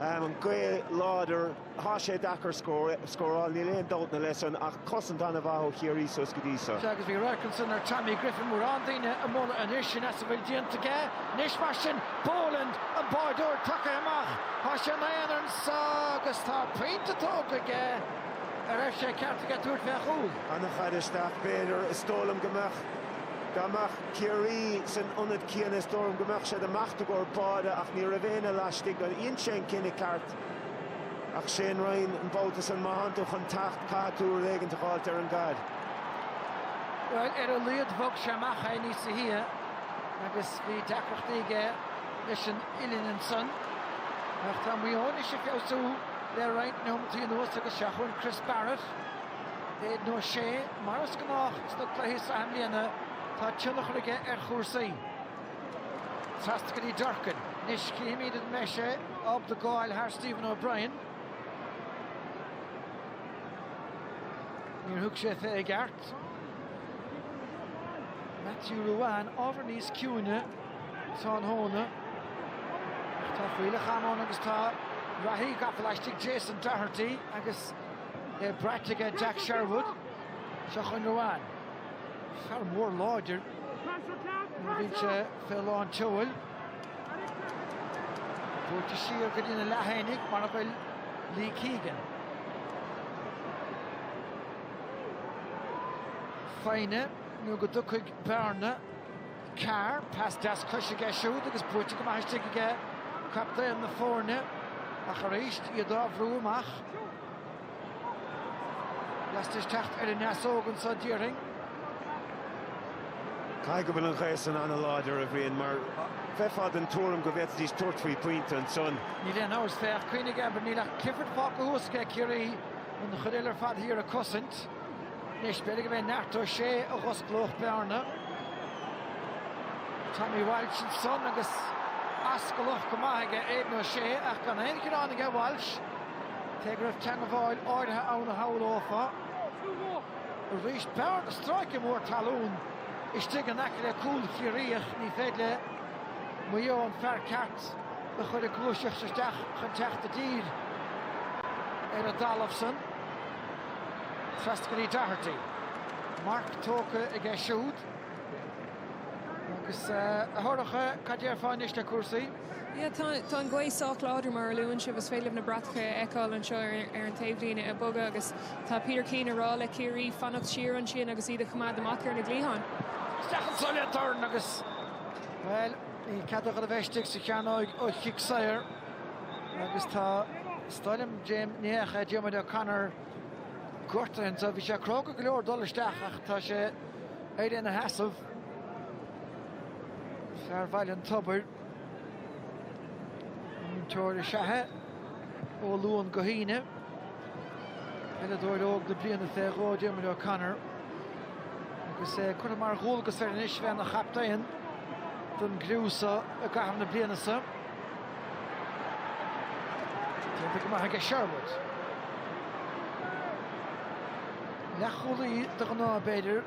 An gaoth láidir, tá sé deacair scóráil, níl aon dabht ina leith san ach cosaint an-mhaith ó Chiarraí suas go dtí seo. Sea agus bhí radharc ansan ar Tommy Griffin, mórán daoine á mholadh anois sin as a bhfuil déanta aige. Anois mar sin, Boland an báireoir tugtha amach, tá sé ina aonar anso agus tá pointe tógtha aige. An raibh sé ceart aige tabhairt fé chúl? An-chaid isteach b'fhéidir, is dóigh liom go mbeadh. Dá mbeadh Ciarraí san ionad céanna is dóigh liom go mbeadh siad ag imeacht i gcomhair báide ach ní raibh éinne laistigh de ansan, cinneadh ceart ach Shane Ryan an babhta san. Má thánn tú chun teacht caithfidh tú rud éigint a dh'fháilt ar an gcaid. Bhuel, ar a laghad bhog sé amach é níosa shia agus bhí deacrachtaí aige leis an uillinn ansan. Ach tá Maigh Eo anois ag feabhsú le roinnt neomataí anuas agus seo chugainn Chris Barrett. Aidan Ó Sé, mar is gnách sna cluichí sraithe i mbliana, tá tionchar aige ar chúrsaí. Trasna go dtí Durcan. Anois chífimid an mbeidh sé ábalta gabháil thar Stephen O'Brien. Níor thug sé fé i gceart. Matthew Ruane, ábhar níos ciúine tráthnóna. Tá fuílleach ama ann agus tá reathaí gafa laistigh Jason Doherty agus é braite aige Jack Sherwood seo chugainn Ruane. Fear mór láidir nuair a bhíonn sé fé lán tseoil. Buaite siar go dtí na leathanaigh mar a bhfuil Lee Keegan. Foighne nó go dtiocfaidh bearna. Carr, pas deas cois aige siúd agus buaite go maith istigh aige captaen na foirne ach arís iad á bhrú amach. Lastais teacht ar an easóg anseo déarfainn. Caithfidh go bhfuil an ghaoth san an-láidir, a Bhriain, mar bheifeá den tuairim go bhféadfaidís tabhairt faoi pointe ansan. Níl aon amhras, féach, cuimhnigh abair, níl ach Clifford fágtha thuas aige Ciarraí an chuid eile ar fad thiar ag cosaint. Anois b'fhéidir gurb é neart Ó Sé a dh'osclódh bearna. Tommy Walsh ansan agus ascalach go maith aige Aidan Ó Sé ach gan aon ghearán aige Walsh. Cé go raibh teangabháil áirithe ann a shamhlófá. Arís bearna stráice mór talún istigh in aice le cúl Chiarraí ach ní féidir le Maigh Eo an fear ceart a chur ag gluaiseacht isteach chun teacht i dtír ar an dtalamh san. Trasna go dtí Doherty. Marc tógtha aige siúd. Agus a Shorcha, cad déarfá anois le cúrsaí? Tá an ghaoth sách láidir mar a luann sibh. Is féidir libh na bratacha a fheiceáil anseo ar an taobhlíne ag bogadh agus tá Peter Keane ag rá le Ciarraí fanacht siar ansin agus iad a choimeád amach ar na gcliatháin. Isteach anseo le dorn agus, bhuel, níl cead agad a bheith istigh sa chearnóig ó chic saor agus tá is dóigh liom James, ní hea ach Diarmuid O'Connor gortaithe anseo. Bhí sé cróga go leor dul isteach ach tá sé éirithe ina sheasamh. Fear Bhaile an Tobair. Múinteoir is ea é ó Luan go hAoine. Peileadóir óg na bliana fé dhó Diarmuid O'Connor. Agus é curtha mar dhualgas air anois bheith ina chaptaen don gcriú seo i gcaitheamh na bliana seo. Déanta go maith aige Sherwood. Leathchúlaí de ghnáth b'fhéidir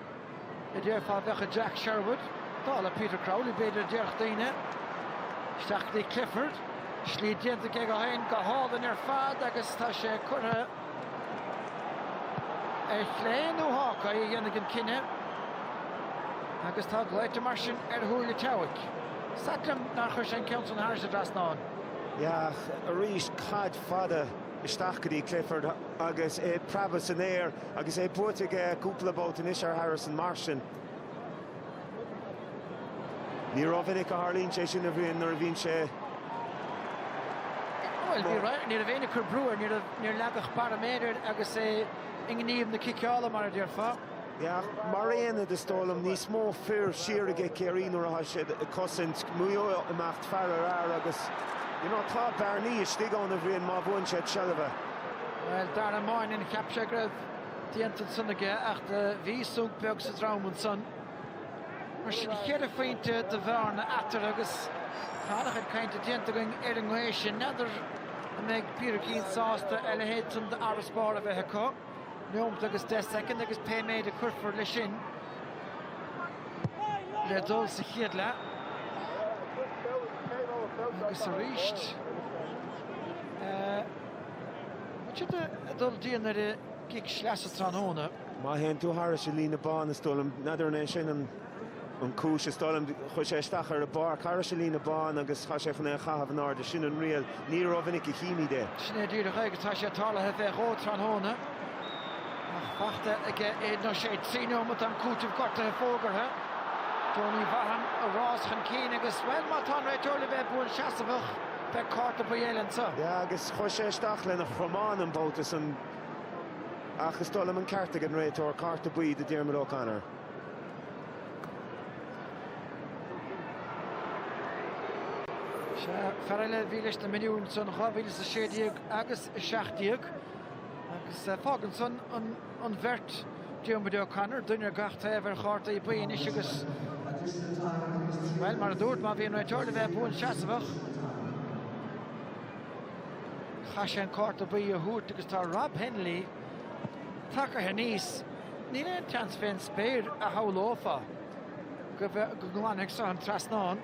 a déarfá a bheadh i Jack Sherwood. Dála Peter Crowley b'fhéidir a déarfadh daoine. Isteach go dtí Clifford. Slí déanta aige dó féin go hálainn ar fad agus tá sé curtha Ar chlé nó Hawkeye a dhéanfaidh an cinneadh agus tá glaoite mar sin ar Shúil an tSeabhaic. Is ait liom nár chuir sé an ceann san thairis an dtrasnán. Yeah arís caid fada isteach go dtí Clifford agus é ag preabadh san aer agus é buailte aige cúpla babhta anois ar Harrison mar sin. Ní rómhinic a tharlaíonn sé sin, a Bhriain, nuair a bhíonn sé. Bhuel bhí right, ní raibh éinne ag cur brú air, níor leagadh barr méire air agus é i ngníomh na ciceála, mar a déarfá. Yeah, mar aonad is dóigh liom níos mó fir siar aige Ciarraí nuair atá siad ag cosaint, Maigh Eo ag imeacht fear ar fhear agus you know, tá bearnaí istigh ann a Bhriain má bhuann siad seilbh. Well, Dara Moynihan cheap sé go raibh déanta ansan aige ach bhí sonc beag sa drom ansan. Mar sin cheithre phointe de bhearna eatarthu agus tá an-chuid cainte déanta againn ar an ngaoth sin. N'fheadar an mbeidh Peter Keane sásta a leithéid sin d'fharasbarr a bheith acu? Neomat agus deich soicind agus pé méid a chuirfear leis sin le dul sa chéad leath. Agus aríst. An siad ag dul dian ar a gcic sleasa tráthnóna? Má théann tú thairis an líne bán, is dóigh liom, n'fheadar an é sin an chúis, is dóigh liom, chuaigh sé isteach ar an bpáirc thairis an líne bán agus tá sé chun é a chaitheamh in airde. Sin an riail. Ní rómhinic a chímíd é. Sin é díreach é agus tá sé tarlaithe fé dhó tráthnóna. Ach fachta aige Aidan O'Shea. Trí neomat am cúitimh gortaithe fógartha. Donie Vaughan ag rás chun cinn agus, bhuel, má tá an réiteoir le bheith buanseasamhach, Beidh cárta buí eile anseo. Yeah agus chuaigh sé isteach lena chromán an babhta san ach is dóigh liom an ceart ag an réiteoir, cárta buí do Diarmuid O'Connor. Sea, fear eile a bhí leis na mionúir san 2016 agus 17 agus fágann san an an bheirt, Diarmuid O'Connor, duine ar gach taobh ar chárta buí anois agus, bhuel, mar a dúirt, má bhí an réiteoir le bheith buanseasmhach, chaith sé an cárta buí a thabhairt agus tá Rob Hennelly tagaithe aníos. Níl aon tseans fé an spéir, a shamhlófá, go nglanfaidh so an trasnán,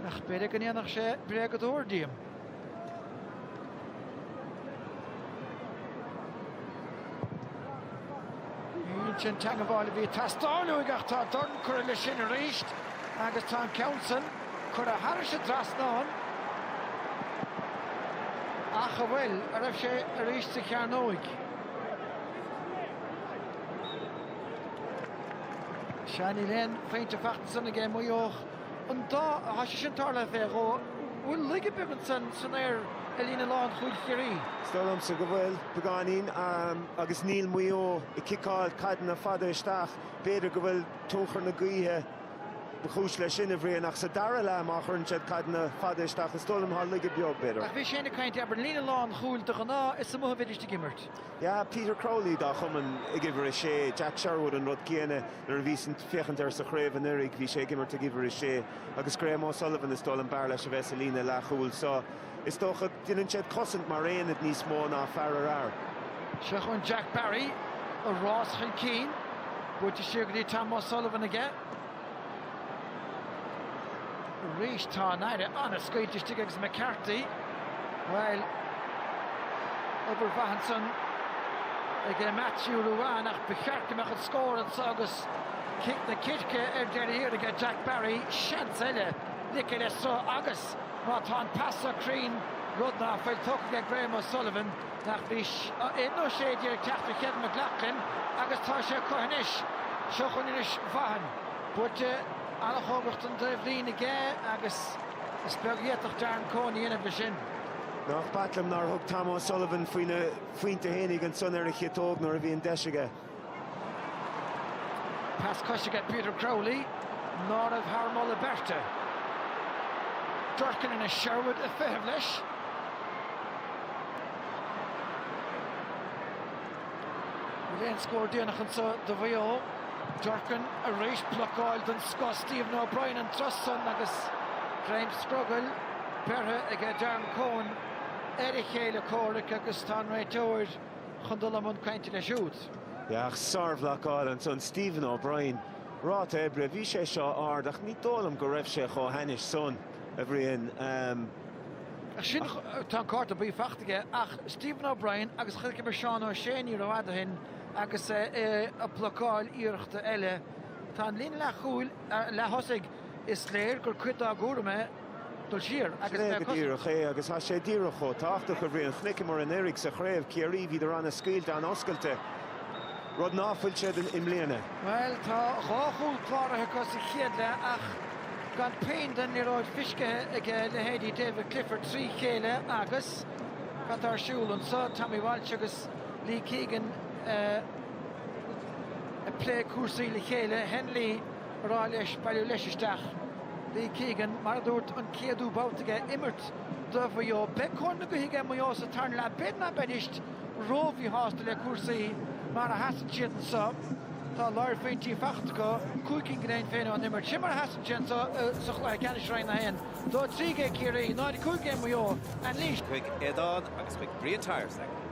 ach b'fhéidir go ndéanfadh sé bréagadóir díom. Sin an teagmháil a bhí ag teastáil uaidh ach tá dorn curtha leis sin arís agus tá an ceann san curtha thairis an dtrasnán ach an bhfuil, an raibh sé arís sa chearnóig? Sea níl aon phointe fachta ansan aige Maigh Eo. an dá, thá sé sin tarlaithe fé dhó, an bhfuil laige beag ansan san aer ar líne lán chúil Chiarraí? Is dóigh liomsa go bhfuil, beagáinín, agus níl Maigh Eo ag ciceáil caideanna fada isteach. B'fhéidir go bhfuil tionchar na gaoithe ba chúis leis sin, a Bhriain, ach sa dara leath má chuireann siad caideanna fada isteach is dóigh liom thá laige beag, b'fhéidir. Ach bhí sinn ag caint, abair, líne lán chúil de ghnáth, is amuigh a bheidís ag imirt. Yeah, Peter Crowley dá chumann ag uimhir a sé, Jack Sherwood an rud céanna, nuair a bhíos ag féachaint air sa chraobh anuiridh bhí sé ag imirt ag uimhir a sé agus Graham O'Sullivan is dóigh liom b'fhearr leis a bheith sa líne leathchúil so. Is dócha, déanann siad cosaint mar aonad níos mó ná fear ar fhear. Seo chugainn Jack Barry, an rás chun cinn buailte siar go dtí Tom O'Sullivan aige. Arís tá an fhaire an-scaoilte istigh agus McCarthy, bhuel, obair mhaith ansan ag Matthew Ruane ach ba cheart go mbeadh an scór anseo agus cic na circe ar deireadh thiar aige Jack Barry, seans eile ligthe le sruth agus má tá an pas seo cruinn, rud ná fuil, tógtha aige Graham O'Sullivan. nach bhí a 11 nó ag teacht do Kevin McLoughlin agus tá sé acu anois. Seo chugainn anois Vaughan. Buailte an-chóngarach don dtaobh líne aige agus is beag a d'fhéadfadh Darren Coen a dhéanamh de sin. Nach b'ait liom nár thug Tom O'Sullivan faoina phointe fhéinig ansan ar an chiotóg nuair a bhí an deis aige. Pas cois aige Peter Crowley, ná raibh thar moladh beirte. Durkin anois, Sherwood ag feitheamh leis. Bhfuil aon scór déanach anseo do Mhaigh Eo? Durkin arís, blocáil den scoth Stephen O'Brien an turas san agus greim scrogaill beirthe aige Darren Coen ar a chéile comhraic agus tá an réiteoir, chun dul i mbun cainte leis siúd. Ach sár-bhlocáil ansan Stephen O'Brien. Ráta oibre, bhí sé seo ard ach ní dóigh liom go raibh sé chomh hainnis san, a Bhriain. Ach sin, tá an cárta buí faighte aige ach Stephen O'Brien agus chonaiceamar Seán O'Shea ní ró-fhada ó shin agus é ag blocáil iarrachta eile. Tá an líne leathchúil Ar a leath-thosaigh, is léir gur cuid dá gcúram é dul siar agus bheith cosaint. Sin é go díreach é agus tá sé díreach chomh tábhachtach. A Bhriain, chonaiceamar anuraidh sa chraobh, Ciarraí, bhíodar ana-scaoilte an-oscailte, rud ná fuil siad i mbliana. Bhuel, tá dhá chúl cláraithe acu sa chéad leath ach gan puinn den liathróid feiscithe ag a leithéidí David Clifford trí chéile agus cad tá ar siúl anseo? Tommy Walsh agus Lee Keegan. ag plé cúrsaí le chéile, Hennelly ag rá leis bailiú leis isteach. Lee Keegan, Mar a dúirt, an céadú babhta aige ag imirt do Mhaigh Eo. Beidh cóir na gaoithe aige Maigh Eo sa tarna leath. B'fhéidir ná beidís ró-mhíshásta le cúrsaí mar a sheasann siad anseo. Tá láir phointí faighte acu, cúig cinn go deimhin féin ón imirt. Sin mar a sheasann sé anseo sa chluiche ceannais Roinn 1. 2-3 ag Ciarraí, 0-5 ag Maigh Eo. Anailís. chuig Aodán agus chuig Brian Tyers.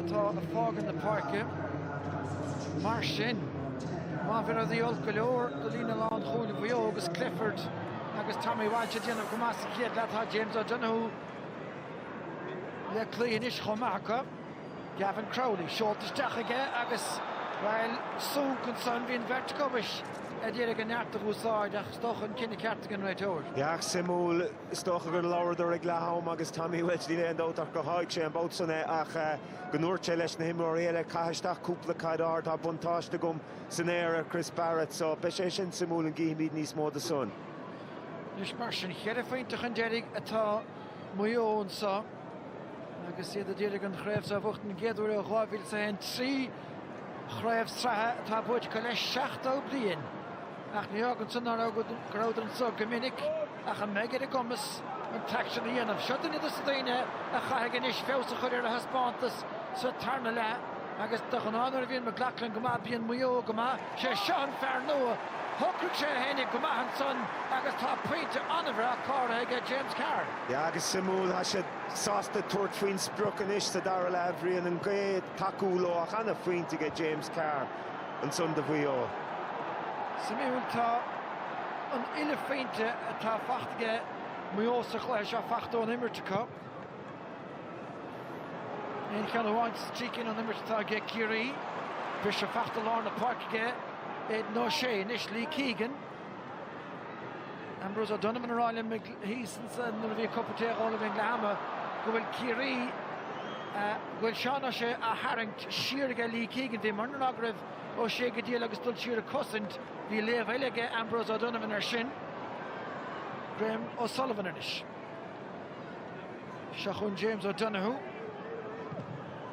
atá ag fágáil na páirce. Mar sin, má bhí rudaí olc go leor do líne lánchúil Mhaigh Eo agus Clifford agus Tommy Walsh ag déanamh go maith sa chéad leath, tá James O'Donoghue le cloí anois chomh maith acu. Gavin Crowley, seolta isteach aige agus, bhuel, sonc ansan, bhí an bheirt acu ag iarraidh a neart a úsáid ach is dócha an cinneadh ceart ag an réiteoir. Yeah, ach suimiúil. Is dócha gur labhradar ag leath am agus Tommy Walsh, níl aon dabht ach gur sháigh sé an babhta san é ach go ndúirt sé leis na himreoirí eile, caith isteach cúpla caid ard, tá buntáiste agam san aer ar Chris Barrett so beidh sé sin suimiúil an gcífimid níos mó de san. Anois mar sin, cheithre phointe chun deiridh atá Maigh Eo anseo agus iad ag iarraidh an chraobh so a bhuachtaint den gcéad uair ó 2001, trí chraobh sraithe atá buaite acu le 70 bliain. Ach ní fhágann san ná go rabhadar anseo go minic ach an mbeidh ar a gcumas an t-aicsean a dhéanamh. Seo duine dos na daoine a chaithfidh anois feabhas a chur ar a thaispeántas sa tarna leath agus de ghnáth nuair a bhíonn McLoughlin go maith bíonn Maigh Eo go maith. Sé seo an fear nua. Shocraigh sé é féinig go maith ansan agus tá pointe an-bhreá cláraithe aige James Carr. Yeah agus suimiúil. Tá sé sásta tabhairt faoin sprioc anois sa dara leath, a Bhriain, an ghaoth ag tacú leo ach an-phointe aige James Carr. ansan do Mhaigh Eo. Suimiúil, tá an uile phointe atá faighte aige Maigh Eo sa chluiche seo faighte ón imirt acu. Aon cheann amháin as trí cinn ón imirt atá aige Ciarraí. Briseadh faighte lár na páirce aige Aidan O'Shea. Anois Lee Keegan. Ambrose O'Donovan á rá liom thíos ansan nuair a bhí cupa tae á ól ag an leath ama go bhfuil Ciarraí eh, go bhfuil Seán Ó Sé á tharraingt siar aige Lee Keegan. Bhí mar ná raibh Ó Sé go diail agus dul siar ag cosaint, bhí léamh eile aige Ambrose O'Donovan ar sin. Graham O'Sullivan anois. Seo chun James O'Donoghue.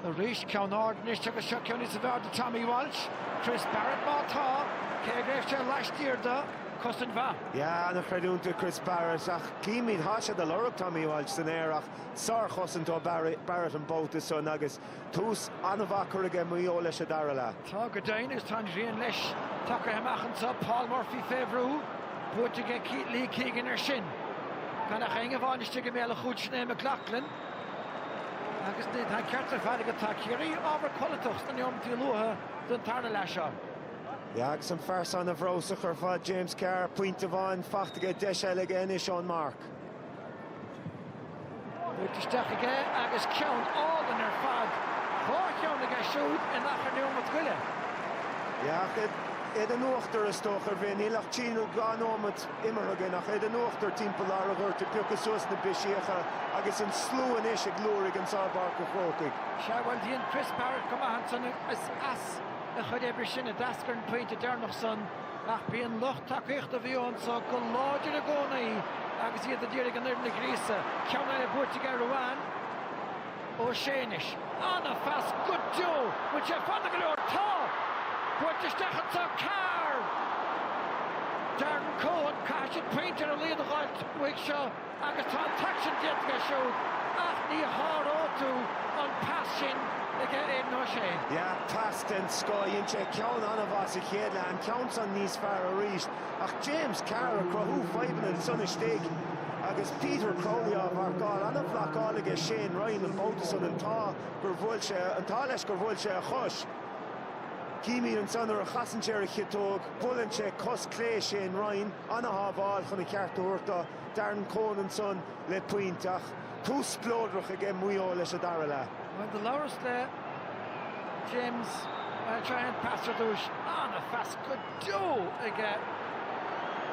Arís ceann ard anois agus seo ceann níos fearr do Tommy Walsh. Chris Barrett má tá, cé go raibh sé laistiar do, cosaint mhaith. Yeah, an-chreidiúint do Chris Barrett ach címid, thá siad ag lorg Tommy Walsh san aer ach sár-chosaint ó Barrett an babhta san agus, Tús an-mhaith á chur aige Maigh Eo leis an dara leath. Tá go deimhin agus tá an ghrian leis tagaithe amach anso. Paul Murphy fé bhrú. Buaite aige Keith Lee Keegan ar sin. Gan ach éinne amháin istigh i mbéal a chúil sin é McLoughlin. Agus ní tá an ceart ar fad agat, tá Ciarraí ábhar codlatach sna neomataí luatha den tarna leath seo. Yeah agus an fear san an-bhreabhsach ar fad James Carr. Pointe amháin faighte aige, deis eile aige anois ón marc. Buailte isteach aige agus ceann álainn ar fad, dhá cheann aige siúd in achar neomat go leith. Yeah iad in uachtar is dócha, a Bhriain. Níl ach trí nó dhá nóimeat imeartha againn ach iad in uachtar timpeall lár an ghoirt ag piocadh suas na bristeacha agus an slua anois ag liúirigh anseo i bPáirc an Chrócaigh. Sea, bhuel, bhí Chris Barrett go maith ansan is as a chuid oibre sin a d'eascair an pointe deireanach san. Ach bhí an lucht tacaíochta a bhí anseo go láidir i gcónaí agus iad ag iarraidh an fhoireann a ghríosadh. Ceann eile buaite aige Aodhán Ó Sé anois. An-phas go deo! Bhfuil sé fada go leor? Tá! Buailte isteach anseo Carr! Darren Coen, caithfidh siad pointe ar a laghad a dh'fháilt uaidh seo. Agus tá an t-aicsean déanta aige siúd ach ní sháróidh tú an pas sin aige Aidan O'Shea. Yeah, pas den scoth. Dhein sé ceann an-mhaith sa chéad leath, an ceann san níos fearr arís. Ach James Carr ag cruthú fadhbanna ansan istigh agus Peter Crowley á mharcáil. An-bhlocáil aige Shane Ryan, an babhta san. An t-ádh gur bhuail sé, an t-ádh leis gur bhuail sé a chos. Címid ansan nuair a chasann sé ar a chiotóg, buaileann sé cos chlé Shane Ryan. An-shábháil chun an cheart a thabhairt do. Darren Coen ansan le pointe ach tús spleodrach aige Maigh Eo leis an dara leath. Bhuel do labhras le James trácht ar an pas ar dtúis, an-phas go deo aige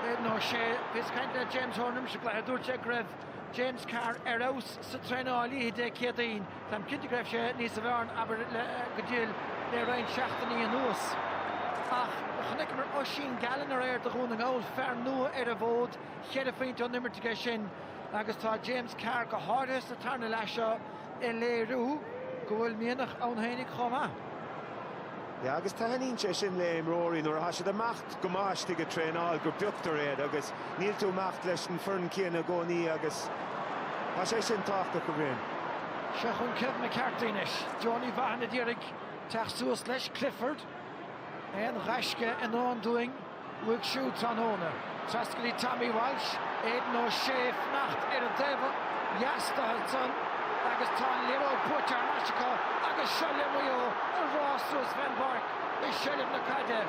Aidan O'Shea bhíos ag caint le James Horan roimis an gcluiche dúirt sé go raibh James Carr ar fheabhas sa traenáil oíche Dé Céadaoin. Táim cinnte go raibh sé níos sa bhearna abair go diail le roinnt seachtainí anuas. Ach chonaiceamar Oisín Gallen aréir do Dhún na nGall, fear nua ar an bhfód. Cheithre phointe ón imirt aige sin agus tá James Carr go háirithe sa tarna leath seo ag léiriú go bhfuil mianach ann fhéinig chomh maith. Yeah, agus taitníonn sé sin le imreoirí nuair a thá siad ag imeacht go maith istigh ag traenáil go bpioctar iad agus níl tú ag imeacht leis an foireann céanna i gcónaí agus tá sé sin tábhachtach, a Bhriain. Seo chugainn Kevin McCarthy anois. Donie Vaughan a d'iarraidh teacht suas leis Clifford. Aon ghaisce i ndán dúinn. uaidh siúd tráthnóna. Trasna go dtí Tommy Walsh, Aidan O'Shea ag fanacht ar an dtaobh ó dheas dá thoil san agus tá an liathróid buaite thar n-ais acu agus seo le Maigh Eo ag rás suas fén bpáirc i seilbh na caide.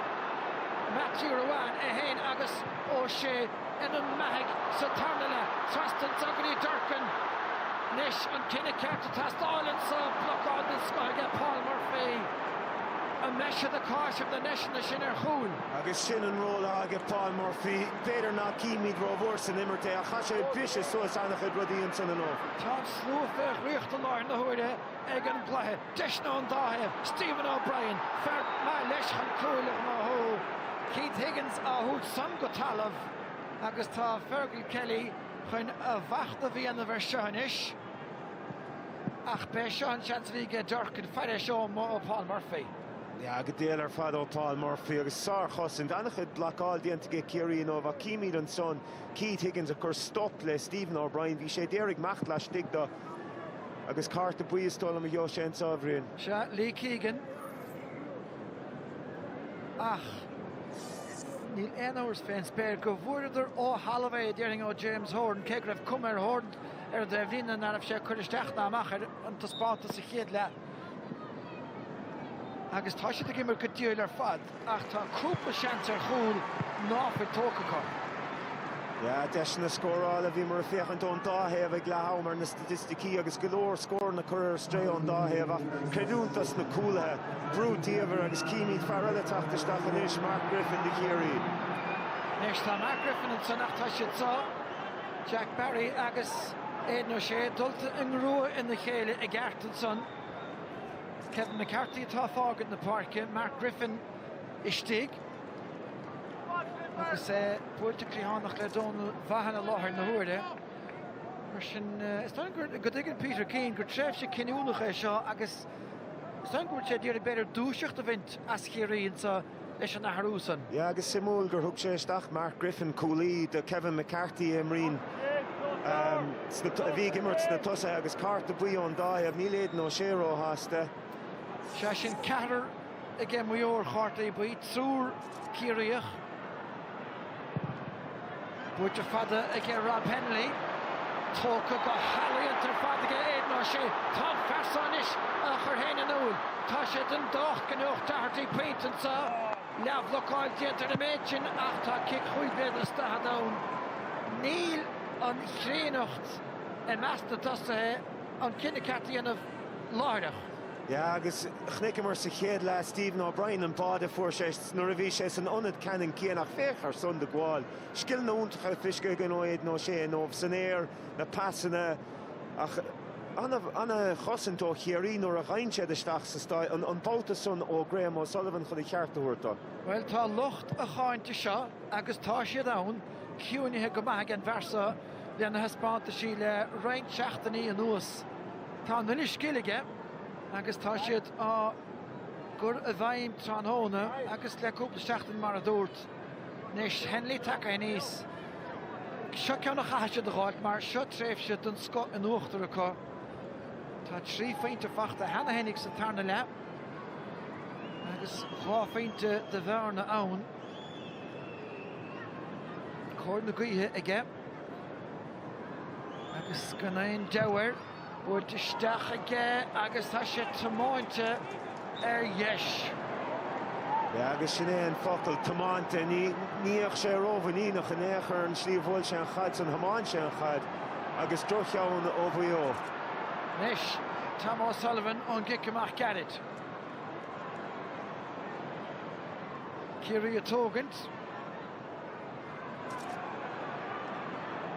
Matthew Ruane é féin agus O'Shea. ana-mhaith aige sa tarna leath. Trasna ansan go dtí Durcan anois an cinneadh ceart ag teastáil anseo. Blocáil den scoth aige Paul Murphy. An mbeidh siad ag cáiseamh na ndeiseanna sin ar chúl? Agus sin an ról atá aige Paul Murphy. B'fhéidir ná címid rómhór san imirt é ach tá sé ag briseadh suas ana-chuid rudaí ansan inniu. Tá an slua fé dhraíocht i láthair na huaire ag an gcluiche. Deiseanna ón dá thaobh, Stephen O'Brien, fear maith leis chun cúil a ghnóthú. Keith Higgins á thabhairt san go talamh agus tá Fergal Kelly chun a mhachnamh a dhéanamh air seo anois. Ach b'é seo an seans a bhí aige Durcan, fair air seo dom ó Paul Murphy. Yeah, go diail ar fad ó Paul Murphy agus sár chosaint. An-chuid blocáil déanta aige Ciarraí inniu ach címid ansan Keith Higgins ag cur stop le Stephen O'Brien. Bhí sé a d'iarraidh imeacht laistigh do. Agus cárta buí is dóigh liom a gheobhaidh sé anseo, a Bhriain. Sea, Lee Keegan. Ach níl aon amhras fén spéir go bhfuaireadar ó thalamh é, a déarfainn, ó James Horan, cé go raibh cuma ar Horan ar an taobhlíne ná raibh sé ag cur isteach ná amach air an taispeántas sa chéad leath. agus tá siad ag imirt go diail ar fad ach tá cúpla seans ar chúl ná fuil tógtha acu. Yeah, deiseanna scórála, bhíomar ag féachaint ón dá thaobh ag leath am ar na staitisticí agus go leor scóranna curtha ar strae ón dá thaobh ach creidiúint dos na cúlaithe, brú diamhair agus címid fear eile teacht isteach anois, Mark Griffin do Chiarraí. Anois tá Mark Griffin ansan ach tá siad seo, Jack Barry agus. Aidan O'Shea dulta i ngrua a chéile i gceart ansan. Kevin McCarthy atá ag fágaint na páirce, Mark Griffin istigh agus é buailte cliathánach le Donal Vaughan i láthair na huaire. Mar sin, is dóigh liom go dtuigeann Peter Keane gur tréimhse cinniúnach í seo agus is dóigh liom go bhfuil sé ag iarraidh b'fhéidir dúiseacht a bhaint as Ciarraí anso. leis an athrú san. Yeah agus suimiúil gur thug sé isteach Mark Griffin, cúlaí, do Kevin McCarthy a imríonn, a bhí ag imirt sna tosaithe agus cárta buí ón dá thaobh, níl Aidan O'Shea róshásta. Sea, sin ceathrar ag Maigh Eo ar chártaí buí, triúr Ciarraíoch. Buailte fada aige Rob Hennelly. Tógtha go healaíonta ar fad aige Aidan O'Shea. Tá an fear seo anois á chur fhéin in iúl. Tá sé dian docht go ngnóthódh Doherty pointe anso. Leathbhlocáil déanta ar an méid sin ach tá cic chúig mhéadar is daichead ann. Níl an chríonnacht i measc na dtosaithe an cinneadh ceart a dhéanamh láithreach. Yeah agus chonaiceamar sa chéad leath Stephen O'Brien, an bá a fuair sé nuair a bhí sé san ionad ceannann céanna ach féach ar san de ghabháil, scileanna iontacha fisice againn ó Aidan O'Shea inniubh san aer, na pasanna ach an-chosaint ó Chiarraí nuair a dhein siad isteach sa stáid an babhta san ó Graham O'Sullivan chun a cheart a thabhairt do. Bhuel tá lucht a cháinte seo, agus tá siad ann, ciúinithe go maith ag an bpearsa, lena thaispeántaisí le roinnt seachtainí anuas. Tá an uile scil aige agus tá siad á gcur i bhfeidhm tráthnóna agus le cúpla seachtain mar a dúirt. Anois Hennelly tagtha aníos. Seo ceann a chaithfidh siad a dh'fháilt mar seo tréimhse den scoth in uachtar acu. Tá trí phointe fachta cheana fhéinig sa tarna leath agus dhá phointe de bhearna ann. cóir na gaoithe aige agus gan aon deabhadh air. Buailte isteach aige agus tá sé tiomáinte ar dheis. Yeah, agus sin é an focal, tiomáinte. Ní bhíodh sé rómhuiníneach in aon chor an tslí a bhuail sé an chaid san, thiomáin sé an chaid agus drochcheann ó Mhaigh Eo. Anois, Tom O'Sullivan ón gcic amach gairid. Ciarraí a tógaint.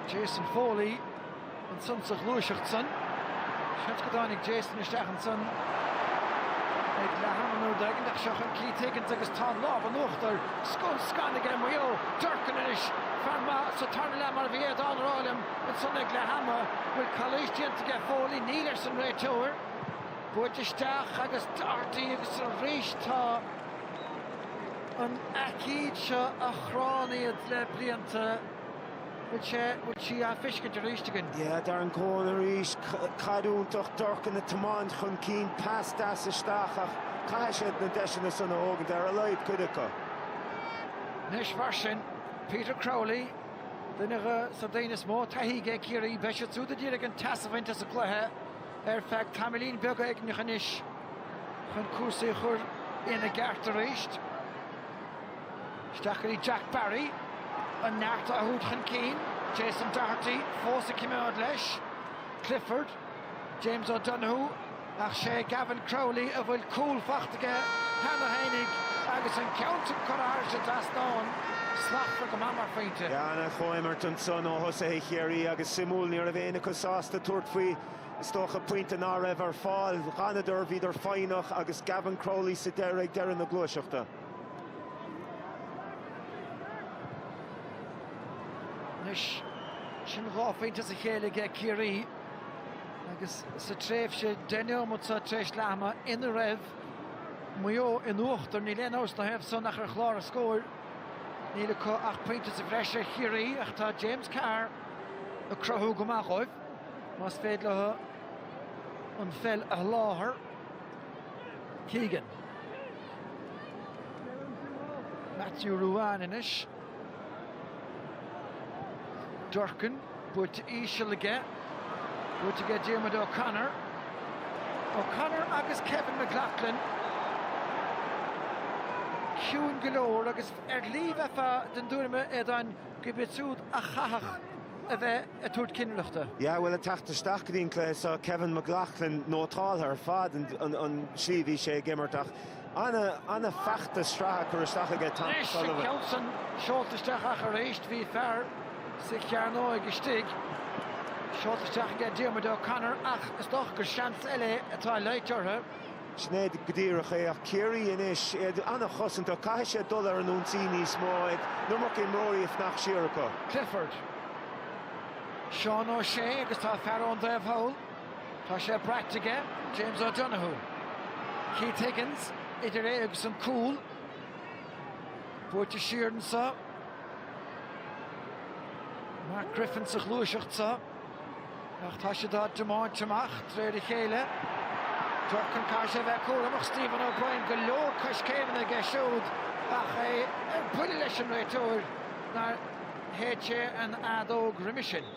Jason Foley ansan sa ghluaiseacht san. Seans go dtáinig Jason isteach ansan ag leath ama nó rud éigin ach seo chun Keith Higgins agus tá an lámh in uachtar scun scan aige Maigh Eo. Durcan anois fear maith sa tarna leath mar a bhí Aodhán a rá liom ansan ag leath ama. An bhfuil calaois déanta aige Foley? Níl arsa an réiteoir. Buaite isteach agus Doherty agus arís tá an aicíd seo a chránn iad le blianta, bhfuil sé, bhfuil sí á fiscint arís againn? Yeah, Darren Coen arís, caid iontach, Durcan a tiomáint chun cinn, pas deas isteach ach caithfidh siad na deiseanna san a thógaint, ar a laghad cuid acu. Anois mar sin, Peter Crowley, duine de na daoine is mó taithí aige ag Ciarraí, beidh siad siúd a d'iarr ar an teas a bhaint as an gcluiche. ar feadh tamaillín beag éigneach anois chun cúrsaí a chur ina gceart arís. Isteach go dtí Jack Barry. An neart á thabhairt chun cinn. Jason Doherty fós ag coimeád leis. Clifford, James O'Donoghue ach sé Gavin Crowley a bhfuil cúl faighte aige cheana féinig, agus an ceann sin curtha thar an dtrasnán slachtmhar go maith mar phointe. Ana chomhimirt ansan ó thosaithe Chiarraí agus suimiúil, ní raibh éinne acu sásta tabhairt faoi, is dócha, pointe ná raibh ar fáil. Dh'fhanadar, bhíodar foighneach agus Gavin Crowley sa deireadh ag deireadh na gluaiseachta. Anois sin dhá phointe as a chéile aige Ciarraí. agus sa tréimhse 10 neomat seo tar éis leath ama ina raibh Maigh Eo in uachtar, níl aon amhras na thaobh san ach ar chlár an scóir, níl acu ach pointe sa bhreis ar Chiarraí ach tá James Carr ag cruthú go maith dhóibh, más féidir leo an pheil a sholáthar. Keegan. Matthew Ruane anois. Durcan, buaite íseal aige, buaite aige Diarmuid O'Connor, O'Connor agus Kevin McLoughlin, ciúin go leor agus ar shlí bheifeá den dtuairim a Aodáin gurb iad siúd a chaithfeadh a bheith ag tabhairt cinnireachta. Yeah bhuel ag teacht isteach go dtí an cluiche seo Kevin McLoughlin nótáltha ar fad an tslí a bhí sé ag imirt ach Ana feachtas sraithe curtha isteach aige Tom O'Sullivan. Anois an ceann san seolta isteach ach aríst bhí fear sa chearnóig istigh. Seolta isteach aige Diarmuid O'Connor ach is dócha gur seans eile é atá le dul orthu. Sin é go díreach é ach Ciarraí anois, iad ana chosantach, caithfidh siad dul ar an ionsaí níos mó, an iomarca imreoirí ag fanacht siar acu. Clifford. Seán O'Shea agus tá fear ar an dtaobh thall. Tá sé braite aige, James O'Donoghue. Keith Higgins idir é agus an cúl. Buailte siar anseo. Mark Griffin sa ghluaiseacht seo. Ach tá siad á dtiomáint amach de réir a chéile. Durcan caithfidh sé bheith cúramach Stephen O'Brien go leor coiscéimeanna aige siúd ach é ar buile leis an réiteoir nár shéid sé an fheadóg roimis sin.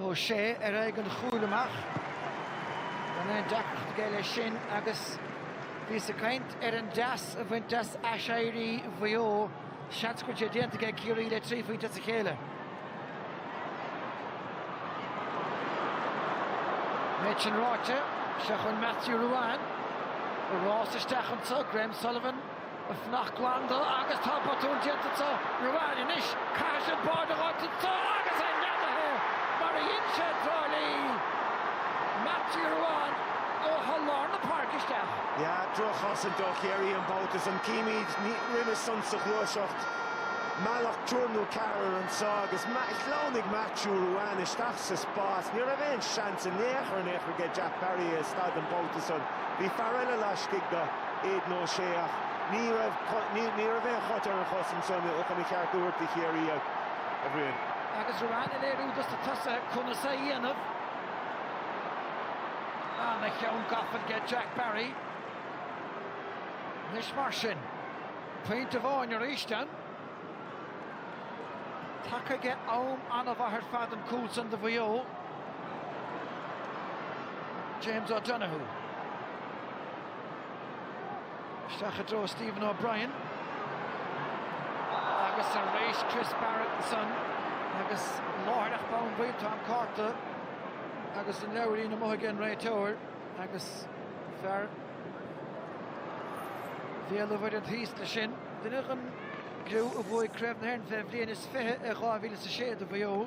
Ó Sé ar aghaidh an chúil amach. Gan aon deacracht aige leis sin agus bhíos ag caint ar an dteas a bhaint as aiséirí Mhaigh Eo, seans go bhfuil sé déanta aige Ciarraí le trí phointe as a chéile. An méid sin ráite, seo chugainn Matthew Ruane. Rás isteach anseo, Graham Sullivan. Fanacht glan do agus tá botún déanta acu Ruane anois. Caithfidh sé an báide a dh'fháilt anso agus é neadaithe mar a dhein sé i dTrá Lí. Matthew Ruane ó tholl lár na páirce isteach. Yeah, drochchosaint ó Chiarraí an babhta san. Címid roimis san sa ghluaiseacht. Mealladh triúr nó ceathrar anso agus shleamhnaigh Matthew Ruane isteach sa spás. Ní raibh aon seans in aon chor in aon chor aige Jack Barry a stad an babhta san. Bhí fear eile laistigh de Aidan O'Shea ach ní raibh aon chrot ar an chosaint san chun a cheart a thabhairt do Chiarraí, a Bhriain. Agus Ruane ag léiriú dos na tosaithe conas é a dhéanamh. Ana-cheann gafa aige Jack Barry. Anois mar sin, pointe amháin aríst ann. Tagtha aige am an-mhaith ar fad an cúl san do Mhaigh Eo, James O'Donoghue. Isteach i dtreo Stephen O'Brien. Agus ar éis Chris Barrett ansan agus láithreach bonn baill tá an cárta agus an leabhairín amuigh ag an réiteoir agus fear Bhéal an Mhuirthead thíos leis sin. Duine den gcriú a bhuaigh Craobh na hÉireann fé bhliain is fiche i dhá mhíle is a sé do Mhaigh Eo.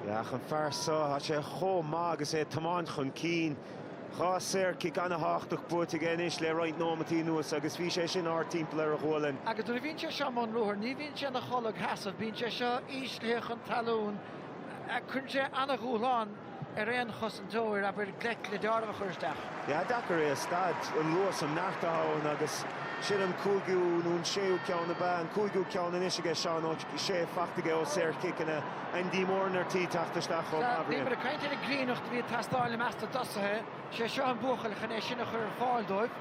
Yeah, an fear so, tá sé chomh maith agus é ag tiomáint chun cinn. Dhá saor-chic ana-tháchtach buaite aige anois le roinnt nóimeataí anuas agus bhí sé sin ard timpeall ar a ghualainn. Agus nuair a bhíonn sé seo i mbun ruathair, ní bhíonn sé ina choilgsheasamh, bíonn sé seo íslithe chun talún, cuireann sé ana-dhúshlán. ar aon chosantóir abair gleic le dealramh a chur isteach. Yeah, deacair é a stad. An luas, an neart atá ann agus sin an cúigiú nó an séú ceann ab ea an cúigiú ceann anois aige Seán Ó Sé fachta aige ó shaorchiceanna. Andy Moran ar tí teacht isteach chomh maith, a Bhriain. Bhíomar ag caint ar an gcríonnacht a bhí ag teastáil i measc na dtosaithe. sé seo an buachaill chun é sin a chur ar fáil dóibh.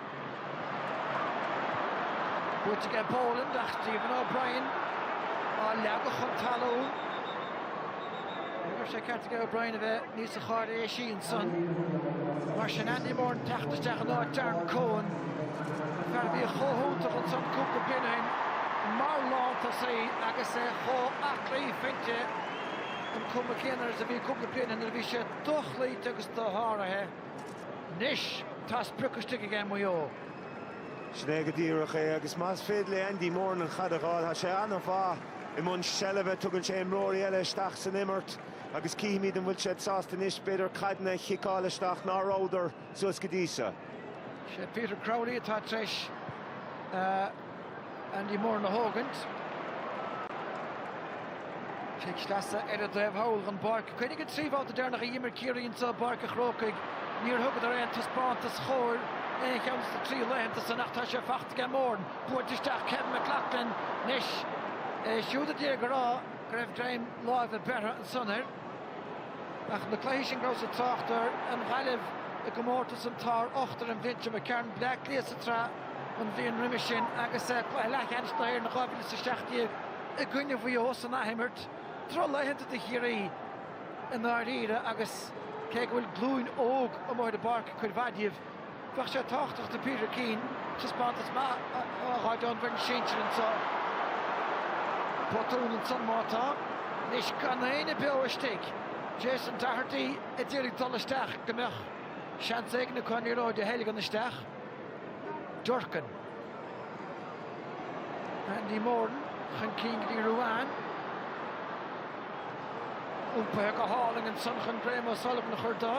Buaite ag Boland ach Stephen O'Brien á leagadh chun talún. Ní raibh sé ceart ag O'Brien a bheith níosa cháiréisí ansan. Mar sin Andy Moran teacht isteach in áit Darren Coen, fear a bhí chomh hiontach ansan cúpla bliain ó shin mar lántosaí agus é chomh aclaí fuinte an cuma chéanna agus a bhí cúpla bliain ó shin nuair a bhí sé dochloíte agus dosháraithe. Anois tá sprioc istigh ag Maigh Eo. Sin é go díreach é agus más féidir le Andy Moran an chaid a ghabháil, tá sé an-mhaith i mbun seilbhe, tugann sé imreoirí eile isteach san imirt agus cífimid an bhfuil siad sásta anois b'fhéidir caideanna a chiceáil isteach ná rabhadar. suas go dtí seo. Sé Peter Crowley atá tar éis Andy Moran a thógaint. Cic sleasa ar a dtaobh thall den bpáirc. Cuimhnigh na trí bhabhta deireanach a dh'imir Ciarraí insa Pháirc a' Chrócaigh, níor thugadar aon taispeántas chóir aon cheann de na trí laethanta san ach tá sé faighte ag Moran. Buailte isteach Kevin McLoughlin. Anois, iad siúd a d'fhéadfadh a rá go raibh greim láimhe beirthe ansan air. Ach na cluichí sin go rabhas ag trácht ar an Ghaillimh i gcomórtas an tSár Ochtair an bhliain seo, an ceann Bleá Cliath sa tsraith an bhliain roimhe sin agus cluiche leathcheannais na hÉireann 2017 i gcoinne Mhaigh Eo san athimirt drochlaethanta do Chiarraí i ndáiríre agus cé go bhfuil glúin óg amuigh ar an bpáirc cuid mhaith díobh Bheadh sé tábhachtach do Peter Keane taispeántas maith a fháil ón bhfoireann sinsir anseo. Botún ansan má tá. Anois gan éinne beo istigh. Jason Doherty ag díriú dul isteach go mbeadh seans éigin chun an liathróid a theilgean isteach. Durcan. Andy Moran chun cinn go dtí Ruane. Iompaithe go hálainn ansan chun Graham O'Sullivan a chur de.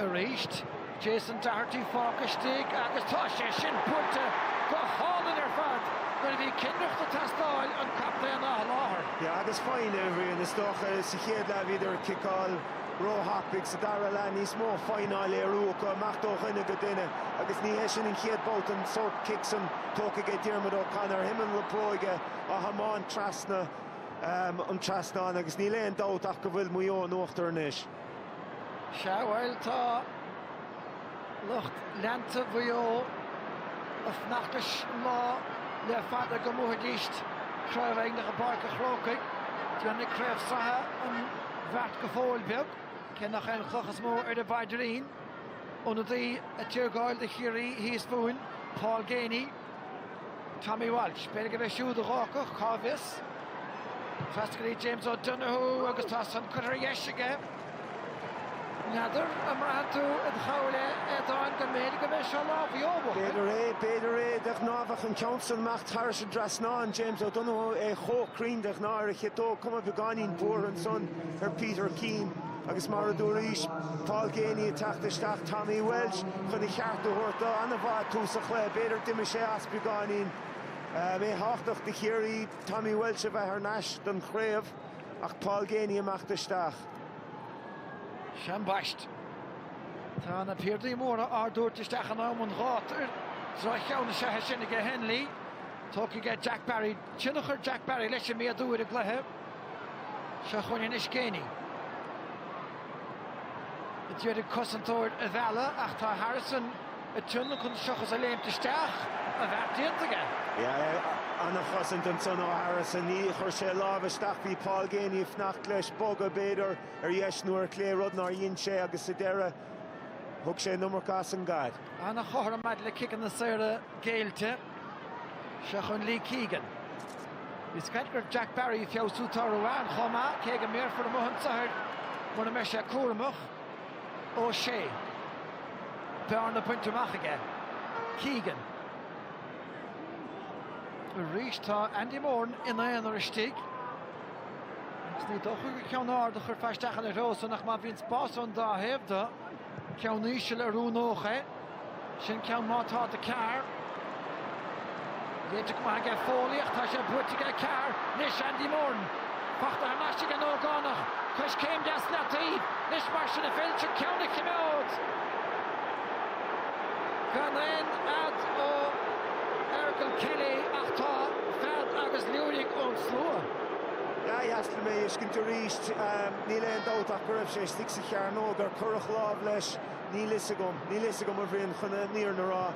Arís, Jason Doherty fágtha istigh agus tá sé sin buaite go hálainn ar fad! Nuair a bhí cinnireacht ag teastáil, an captaen á sholáthar. Yeah, agus foighne, a Bhrian. Is dócha sa chéad leath bhíodar ag ciceáil. róthapaidh sa dara leath, níos mó foighne á léiriú acu, imeacht ó dhuine go duine agus ní hé sin an chéad bhabhta den sórt cic san tógtha aige Diarmuid O'Connor, taobh amuigh na bróige á thiomáint trasna an trasnáin agus níl aon dabht ach go bhfuil Maigh Eo in uachtar anois. Sea, bhuel, tá. Lucht leanta Mhaigh Eo ag feitheamh leis an lá le fada go mbuafaidís Craobh Éireann i bPáirc an Chrócaigh. Déanfaidh craobh sraithe an bheart go fóill beag, cé nach é an chloch is mó ar a bpaidrín. Ionadaí ag téargáil do Chiarraí thíos fúinn, Paul Geaney. Tommy Walsh, b'fhéidir gurb é siúd a thiocfadh, cá bhfios. Fastalaí James O'Donoghue agus tá san curtha ar dheis aige. N'fheadar an mbraitheann tú i do chnámha é, a Aodáin, go mb'fhéidir gurb é seo lá Mhaigh Eo,? B'fhéidir é, b'fhéidir é. De ghnáth bheadh an ceann san amach thairis an trasnán, James O'Donoghue, é chomh cruinn de ghnáth ar a chiotóg, cuma beagáinín buartha ansan ar Peter Keane. Agus mar a dúraís, Paul Geaney ag teacht isteach, Tommy Walsh chun a cheart a thabhairt do. An-mhaith tús an chluiche. B'fhéidir gur imigh sé as beagáinín. B'é tábhachtach do Chiarraí Tommy Walsh a bheith thar n-ais don chraobh ach Paul Geaney ag teacht isteach. Seo an bhaist. Tá na piardaí móra á dtabhairt isteach in am an ghátair. Droch-cheann na seithe sin aige Hennelly. Tógfaidh ar Jack Barry, tionchar Jack Barry leis an méadú ar an gcluiche. Seo chugainn anois Geaney. D'fhéadfadh cosantóir a mhealladh ach tá Harrison ag tonadh chun seachas a léimt isteach. A bheart déanta aige. An-chosaint ansan ó Harrison. Níor chuir sé a lámh isteach. Bhí Paul Geaney ag fanacht leis bogadh b'fhéidir ar dheis nó ar chlé, rud nár dhein sé agus sa deireadh thug sé an iomarca as an gcaid. An-chothrom maidir le ciceanna saora géillte. Seo chun Lee Keegan. Bhí scairt gur Jack Barry ag feabhsú toradh ann chomh maith, cé go mbéarfar amuigh an tsoathair mura mbeidh sé cúramach. Ó Sé. Bearna bainte amach aige. Keegan. Arís tá Andy Moran ina aonar istigh. Agus ní dócha gur ceann ard a chuirfear isteach ina threo san ach má bhíonn spás ón dá thaobh do. Ceann íseal a roghnódh é. Sin ceann nach bhfuil ard. Léite go maith aige Foley ach tá sé buailte aige a cearr anois Andy Moran. Faighte thar n-ais ag an ógánach. Coiscéim deas leataobh. Anois mar sin a féidir ceann a chimeád. Gan aon fhead ó Fhergal Kelly ach tá fead agus liúirigh ón slua. Sea, ba dheas liom é a fheiscint arís. Níl aon dabht ach go raibh sé istigh sa chearnóg nuair a cuireadh lámh leis. Níl fhios agam. Níl fhios agam a Bhrian chun an fhírinne a rá.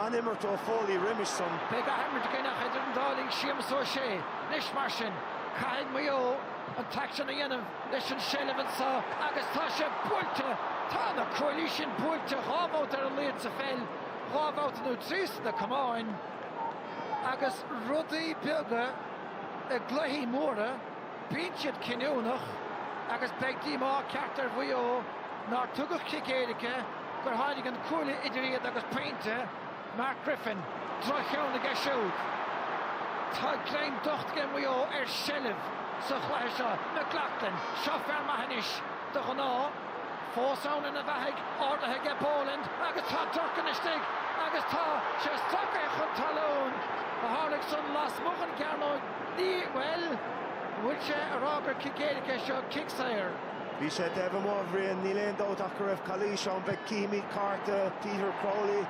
An-imirt ó Foley roimis san? Beidh athimirt again idir an dá linn Séamus Ó Sé. Anois mar sin, caithfidh Maigh Eo an taisce a dhéanamh leis an seilbh anseo agus tá sé buailte! Tá na cuaillí sin buailte dhá bhabhta ar a laghad sa pheil, dhá bhabhta nó trí sna camáin agus rudaí beaga i gcluichí móra. Bíonn siad cinniúnach agus beidh díomá ceart ar Mhaigh Eo nár tugadh cic éirice, gur tháinig an cuaille idir iad agus pointe. Mark Griffin, droch-cheann aige siúd. Tá greim docht ag Maigh Eo ar sheilbh sa chluiche seo. McLaughlin, seo fear maith anois, de ghnáth. Fós ann ina bheathaigh, ardaithe aige Boland agus tá Durcan istigh agus tá sé stracaithe chun talún ach tharla san lasmuigh den chearnóg. Ní, bhuel, an bhfuil sé a rá gur cic éirice é seo, cic saor? Bhí sé taobh amuigh, a Bhriain. Níl aon dabht ach go raibh calaois ann. Beidh, címid, cárta Peter Crowley.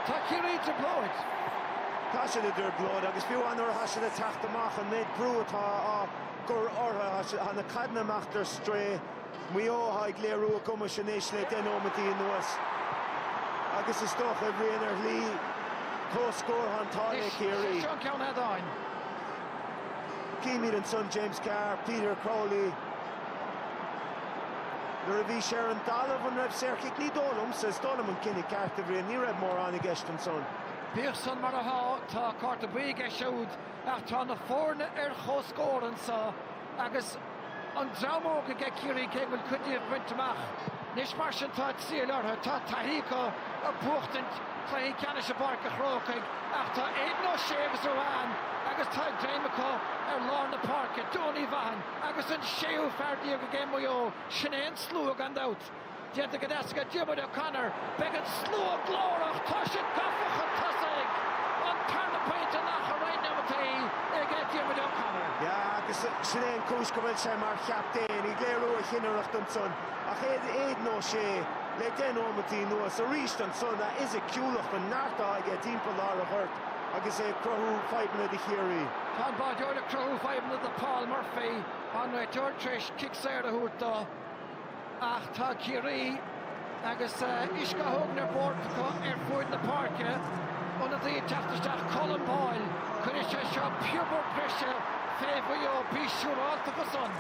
Tá Ciarraí i dtrioblóid. Tá siad i dtrioblóid agus fiú amháin nuair atá siad ag teacht amach, an méid brú atá á gcur orthu, tá na caideanna amach ar strae. Maigh Eo ag léiriú a gcumais anois le deich nóimeataí anuas agus is dócha, a Bhriain, ar shlí comhscór, tá an t-ádh le Ciarraí. Anois, is é seo ceann head on. Címid ansan James Carr, Peter Crowley. Nuair a bhí sé ar an dtalamh, an raibh saorchic? Ní dóigh liomsa, is dóigh liom an cinneadh ceart, a Bhriain, ní raibh mórán i gceist ansan. Bíodh san mar atá, tá cárta buí aige siúd ach tá na foirne ar chomhscór anso. Agus an dream óg aige Ciarraí, cé go bhfuil cuid díobh bainte amach anois mar sin, tá triail orthu. Tá taithí acu ar bhuachtaint cluichí ceannais i bPáirc an Chrócaigh ach tá Aidan O'Shea agus Ruane agus tá greim acu ar lár na páirce, Donie Vaughan agus an séú fear déag aige Maigh Eo, sin é an slua gan dabht. Déanta go deas aige Diarmuid O'Connor, beidh an slua glórach tá siad gafa chun tosaigh. An tarna pointe in achar roinnt neomataí ag Diarmuid O'Connor. Sea agus sin é an cúis go bhfuil sé mar chaptaen, ag léiriú a chinnireacht ansan. Ach Aidan Ó Sé le deich nóimeataí anuas arís ansan, a fhisiciúlacht, an neart atá aige timpeall lár an ghoirt agus é ag cruthú fadhbanna do Chiarraí. Tá an báideoir ag cruthú fadhbanna do Paul Murphy, an réiteoir tar éis cic saor a thabhairt dó. Ach tá Ciarraí agus uisce á thógaint ar bord acu ar fuaid na páirce. Ionadaí ag teacht isteach, Colm Boyle. Cuirfidh sé seo piobar breise fé Mhaigh Eo, bí siúrálta de san.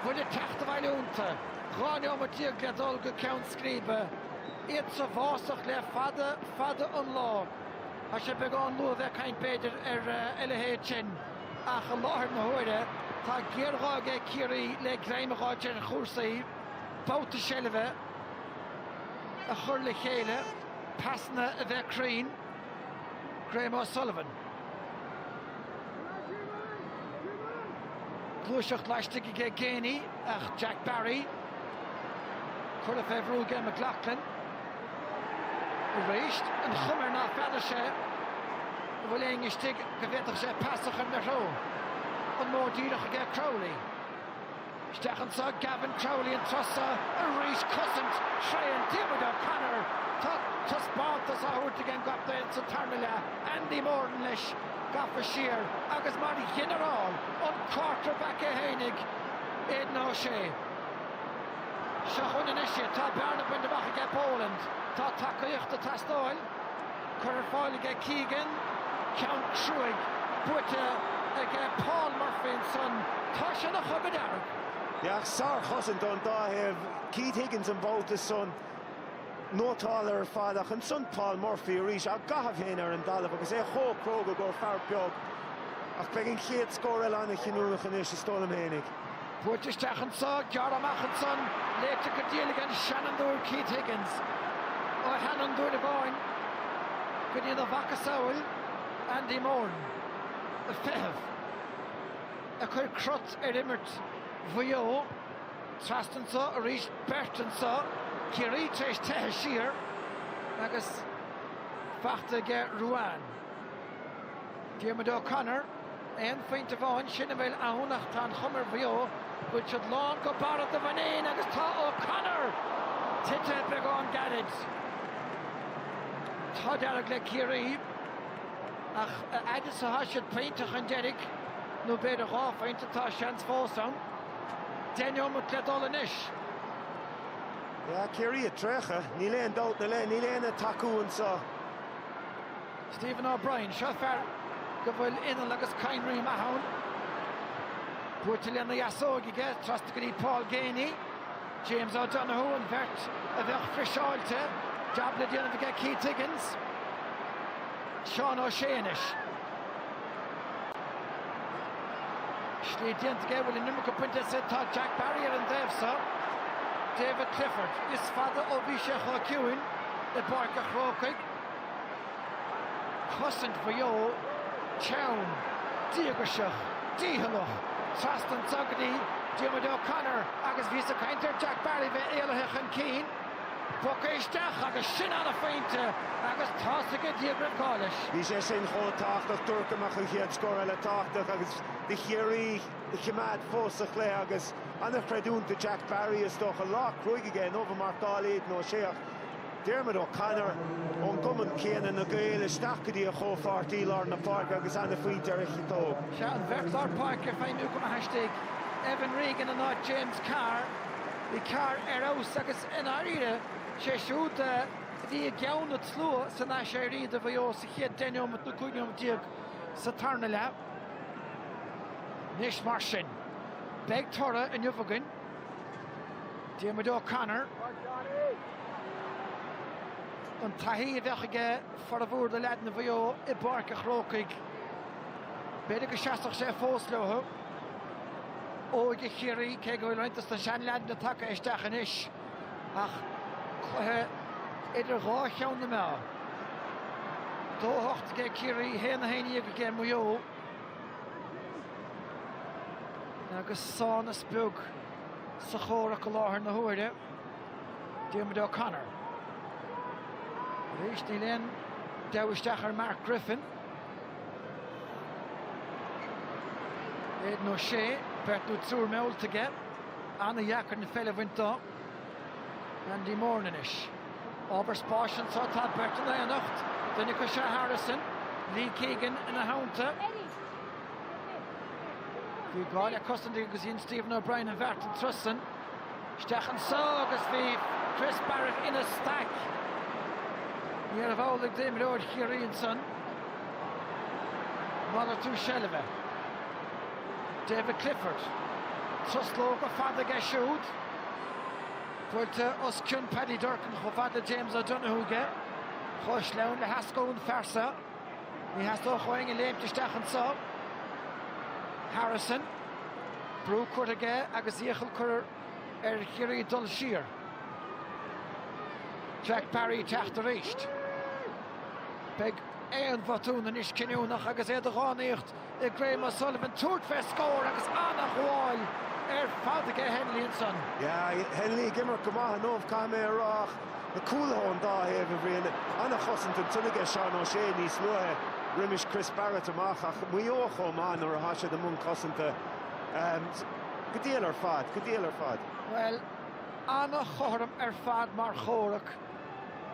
Bhfuil an teacht abhaile iontu. Dhá neomat déag le dhul go ceann scríbe. Iad sa bhfásach le fada fada an lá. Tá sé beagán luath bheith ag caint b'fhéidir ar a leithéid sin. Ach i láthair na huaire, tá géarghá ag Ciarraí le greim a dh'fháilt ar chúrsaí, babhta seilbhe a chur le chéile, pasanna a bheith cruinn. Graham O'Sullivan. Gluaiseacht laistigh aige Geaney ach Jack Barry curtha fé bhrú aige McLaughlin. Arís, an chuma air ná feadair sé an bhfuil éinne istigh go bhféadfadh sé pas a chur ina threo. An modh díreach aige Crowley. Isteach anso Gavin Crowley an turas so arís, cosaint thréan Diarmuid O'Connor. Tá taispeántas á thabhairt ag an gcaptaen sa tarna leath, Andy Moran leis, gafa siar agus mar ghinearál an quarterback é fhéinig Aidan O'Shea. Seo chugainn anois é. Tá bearna bainte amach aige Boland. Tá tacaíocht ag teastáil. Curtha ar fáil aige Keegan. Ceann cruaidh buaite aige Paul Murphy ansan. Tá sé ina chogadh dearg. Yeah, sár-chosaint ón dá thaobh. Keith Higgins an babhta san. Nótálta ar fad ach ansan Paul Murphy arís. Á gcaitheamh féin ar an dtalamh agus é chomh cróga gur fear beag. Ach beidh an chéad scór eile an-chinniúnach anois is dóigh liom fhéinig. Buailte isteach anso, gearrtha amach ansan, léite go diail ag an seanfhondúir Keith Higgins. Ó sheanfhondúir amháin go dtína mhacasamhail Andy Moran, ag feitheamh a chuir crot ar imirt Mhaigh Eo. Trasna anso arís, beirt anso, Ciarraí tar éis teitheadh siar agus fachta aige Ruane. Diarmuid O'Connor, Aon phointe amháin, sin a bhfuil ann ach tá an chuma ar Mhaigh Eo go bhfuil siad lán go barra do mhuinín agus tá O'Connor tite beagán gairid. Tá dearg le Ciarraí ach a fhad is atá siad pointe chun deiridh, nó b'fhéidir dhá phointe, tá seans fós ann. Deich neomat le dul anois. Yeah, Ciarraí ag traochadh, níl aon dabht ina leith, níl éinne ag tacú anso. Stephen O'Brien, Seo fear go bhfuil inneall agus cadhnraí maith ann. Buailte lena dheasóig aige, trasna go dtí Paul Geaney, James O'Donoghue, an bheirt a bheadh friseáilte, jab le déanamh aige Keith Higgins, Seán O'Shea anois. Slí déanta aige, bhfuil an iomarca bainte as, tá Jack Barry ar an dtaobh so. David Clifford, is fada ó bhí sé chomh ciúin i bPáirc a' Chrócaigh. Cosaint Mhaigh Eo, teann, díocasach, dícheallach, trasna anso go dtí Diarmuid O'Connor agus bhíos ag caint ar Jack Barry bheith éalaithe chun cinn. Poc isteach agus sin an-phointe agus tá a fhios aige Dia go raibh gá leis. Bhí sé sin chomh tábhachtach dúrt go mbeadh an chéad scór eile tábhachtach agus do Chiarraí a choimeád fós sa chluiche agus an-chreidiúint do Jack Barry is dócha. Lá cruaidh aige inniu ag marcáil Aidan O'Shea ach Diarmuid O'Connor ón gcumann céanna, na Gaeil, isteach go dtí a chomhpháirtí lár na páirce agus an-phointe ar a chiotóg. Sea, an bheirt lár páirce ag feidhmiú go maith istigh, Evan Regan in ionad James Carr. Bhí Carr ar fheabhas agus i ndáiríre sé siúd a bhí i gceann an tslua san aiséirí do Mhaigh Eo sa chéad deich nóimeat nó cúig nóimeat déag sa tarna leath. Anois mar sin, beidh toradh inniu againn. Diarmuid O'Connor, an taithí a bheadh aige formhór do leaideanna Mhaigh Eo i bPáirc a' Chrócaigh, b'fhéidir go seasfadh sé fós leotha. óige Chiarraí, cé go bhfuil roinnt dos na seanleaideanna tagtha isteach anois, ach cluiche idir dhá cheann na meá. Dó a hocht aige Ciarraí, haon a haon déag aige Maigh Eo agus sámhnas beag sa chomhrac i láthair na huaire. Diarmuid O'Connor. Arís níl aon deabhadh isteach ar Mark Griffin. Aidan O'Shea, Beirt nó triúr meallta aige. An-dheacair an pheil a bhaint do Andy Moran anois. Ábhar spáis anso, tá beirt in éineacht. Duine acu is ea Harrison. Lee Keegan ina theannta. Bhí gá le cosaint aige agus dhein Stephen O'Brien an bheart an turas san. Isteach anso agus bhí Chris Barrett ina staic. Níorbh amhlaidh d'imreoir Chiarraí ansan. Malartú seilbhe. David Clifford. Truslóga fada aige siúd. Buailte os cionn Paddy Durcan chomh fada le James O'Donoghue aige. Chomh sleamhain le heascú an fear so. Ní theastódh ó éinne léimt isteach anso. Harrison, brú curtha aige agus iachall curtha ar Chiarraí dul siar. Jack Barry teacht aríst. Beidh aon bhotún anois cinniúnach agus é de dhánaíocht i Graham O'Sullivan tabhairt fé scór agus an-ghabháil ar fad aige Hennelly ansan. Yeah, Hennelly ag imirt go maith inniu, caithfidh mé a rá, ach na cúlaithe ón dá thaobh, a Bhriain, an-chosaint ansan aige Seán O'Shea níos luaithe roimis Chris Barrett amach ach Maigh Eo chomh maith nuair atá siad i mbun cosanta. Go diail ar fad, go diail ar fad. Bhuel, an-chothrom ar fad mar chomhrac.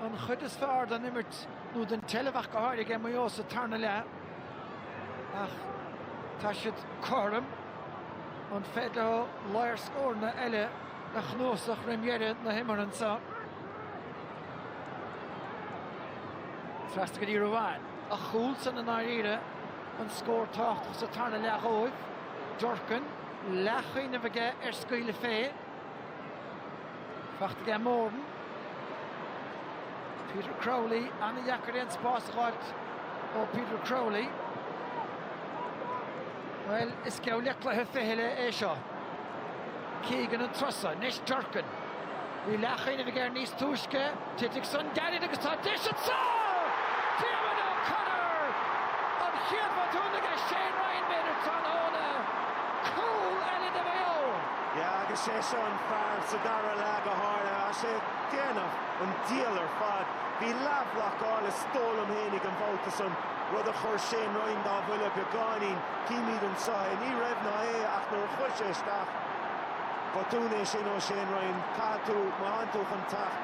An chuid is fearr den imirt nó den tseilbh ach go háirithe aige Maigh Eo sa tarna leath. ach tá siad cothrom, an féidir leo ábhar scóranna eile a chnuasach roim dheireadh na himeartha anso? Trasna go dtí Ruane, a chúl san i ndáiríre, an scór tábhachtach sa tarna leath dhóibh. Durcan, leathchuimhneamh aige ar scaoileadh fé. Fachta aige Moran. Peter Crowley, ana dheacair aon spás a dh'fháilt ó Peter Crowley. Well, is geall le cluiche fichille é seo. Keegan an turas so, anois Durcan. Bhí leathchuimhneamh aige níos túisce Titfidh san gairid agus tá deis anso! Diarmuid O'Connor! An chéad bhotún aige Shane Ryan b'fhéidir tráthnóna? Cúl eile do Mhaigh Eo! Yeah agus sé seo an fear sa dara leath go háirithe tá sé ag déanamh an diabhal ar fad. Bhí leathbhlocáil is dóigh liom fhéinig an babhta san, rud a chuir Shane Ryan dá bhuille beagáinín. Címid anso é. Ní raibh ná é ach nuair a chuir sé isteach. Botún é sin ó Shane Ryan. Caithfidh tú, má thánn tú chun teacht,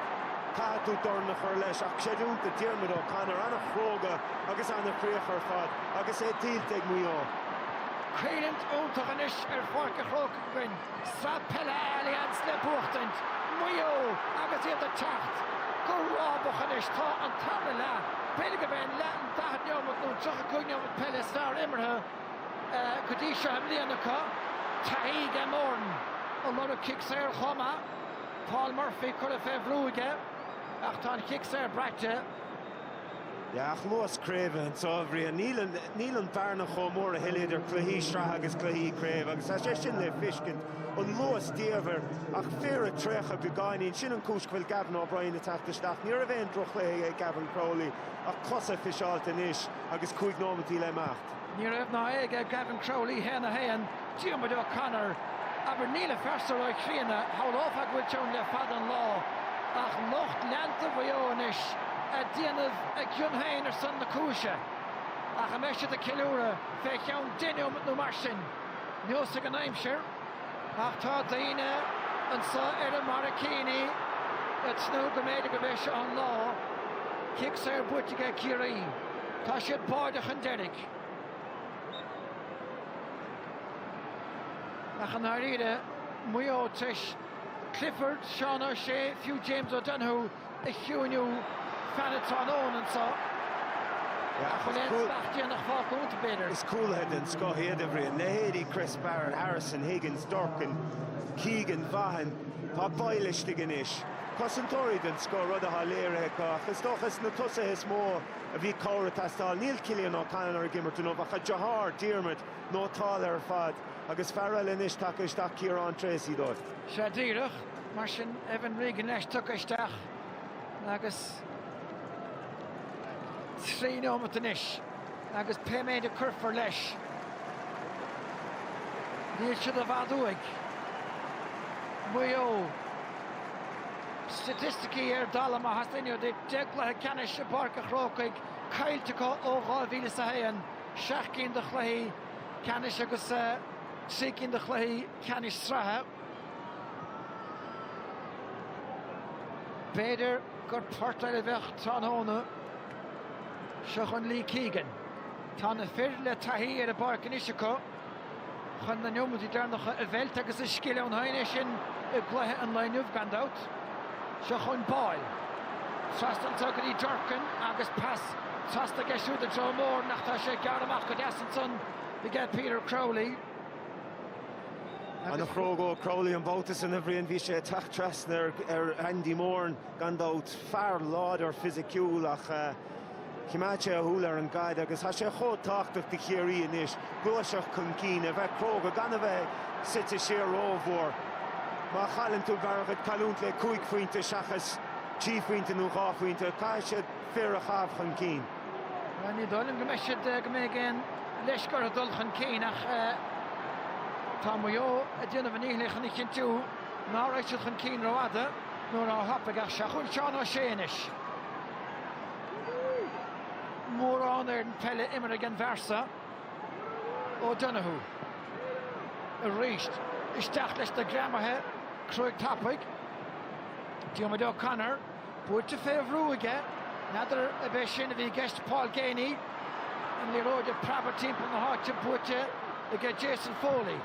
caithfidh tú dorn a chur leis. Ach creidiúint do Diarmuid O'Connor, an-chróga agus an-chríoch ar fad agus é tuillte ag Maigh Eo. Coimhlint iontach anois ar Pháirc a' Chrócaigh againn, Sraith Peile Allianz le buachtaint, Maigh Eo agus iad ag teacht go rábach anois. Tá an tarna leath, b'fhéidir go mbeidh an leath an 40 neomat nó an 35 neomat peile is fearr imeartha, go dtí seo i mbliana acu. Taithí aige Moran ag lorg cic saor chomh maith. Paul Murphy curtha fé bhrú aige ach tá an cic saor braite. Yeah ach luas craoibhe anso a Bhriain. Níl an bhearna chomh mór a thuilleadh idir cluichí sraithe agus cluichí craoibhe agus tá sé sin le fiscint on luas diamhair ach fir ag traochadh beagáinín. Sin an cúis go bhfuil Gavin O'Brien ag teacht isteach. Ní raibh aon droch chluiche ag Gavin Crowley ach cosa friseáilte anois agus cúig nóimeataí le imeacht. Ní raibh ná é aige Gavin Crowley haon a haon, Diarmuid O'Connor, abair Níl an fear so ró-chríonna, shamhlófá go bhfuil sé ann le fada an lá, ach lucht leanta Mhaigh Eo anois a' déanamh a gcion féin ar son na cúise. Ach an mbeidh siad a' ceiliúradh fé cheann deich neomat nó mar sin? Neosfaidh an aimsir. Ach tá daoine anso ar a mbarraicíní ag tnúth go mb'fhéidir gurb é seo an lá. Cic saor buaite aige Ciarraí. Tá siad báide chun deiridh. Ach i ndáiríre, Maigh Eo tar éis Clifford, Seán O'Shea, fiú James O'Donoghue, a chiúiniú. Fan an tráthnóna anso. Nach bhfuil aon smacht déanach fágtha iontu, b'fhéidir. Is cúlaithe den scoth iad a Bhriain, leithéidí Chris Barrett, Harrison, Higgins, Durcan, Keegan, Vaughan. Tá Boyle istigh anois. Cosantóirí den scoth, rud atá léirithe acu, ach is dócha is sna tosaithe is mó a bhí cabhair ag teastáil. Níl Cillian O'Connor ag imirt inniu, ach tá deartháir Diarmuid, nótálta ar fad agus fear eile anois tagtha isteach, Ciarán Treacy, dóibh. Sea, díreach. Mar sin, Evan Regan leis tugtha isteach agus trí nóimeat anois agus pé méid a cuirfear leis, níl siad i bhfad uaidh Maigh Eo. Staitisticí ar dalladh, má theastaíonn uait é, deich gcluiche ceannais i bPáirc an Chrócaigh caillte acu ó 2001, seacht gcinn de chluichí ceannais agus trí cinn de chluichí ceannais sraithe. B'fhéidir gur port eile a bheadh tráthnóna. Seo chugainn Lee Keegan. Tá na fir le taithí ar an bpáirc anois acu chun na neomataí deireanacha a mheilt agus is scil ann féin é sin i gcluiche an lae inniu, gan dabht. Seo chugainn Boyle. Trasna anso go dtí Durcan agus pas trasna aige siúd i dtreo Moran ach tá sé gearrtha amach go deas ansan aige Peter Crowley. Ana chróga ó Crowley an babhta san, a Bhriain. Bhí sé ag teacht trasna ar Andy Moran gan dabht. Fear láidir fisiciúil ach choimeád sé a shúil ar an gcaid agus tá sé chomh tábhachtach do Chiarraí anois gluaiseacht chun cinn, a bheith cróga, gan a bheith suite siar rómhór. Má chailleann tú b'fhearr dhuit cailliúint le cúig phointe seachas trí phointe nó dhá phointe. Caithfidh siad fir a chaitheamh chun cinn. Ní dóigh liom go mbeidh siad, go mbeidh aon leisce orthu dul chun cinn ach tá Maigh Eo ag déanamh a ndíchill chun a chinntiú ná raghaidh siad chun cinn rófhada nó róthapaidh ach seo chugainn Seán Ó Sé anois. Moran, ana pheil imeartha ag an bhfear so. O'Donoghue. Arís, isteach leis siúd, greamaithe cruaidh tapaidh. Diarmuid O'Connor. Buaite fé bhrú aige. N'fheadar ab é sin a bhí i gceist Paul Geaney? An liathróid ag preabadh timpeall na háite buaite aige Jason Foley.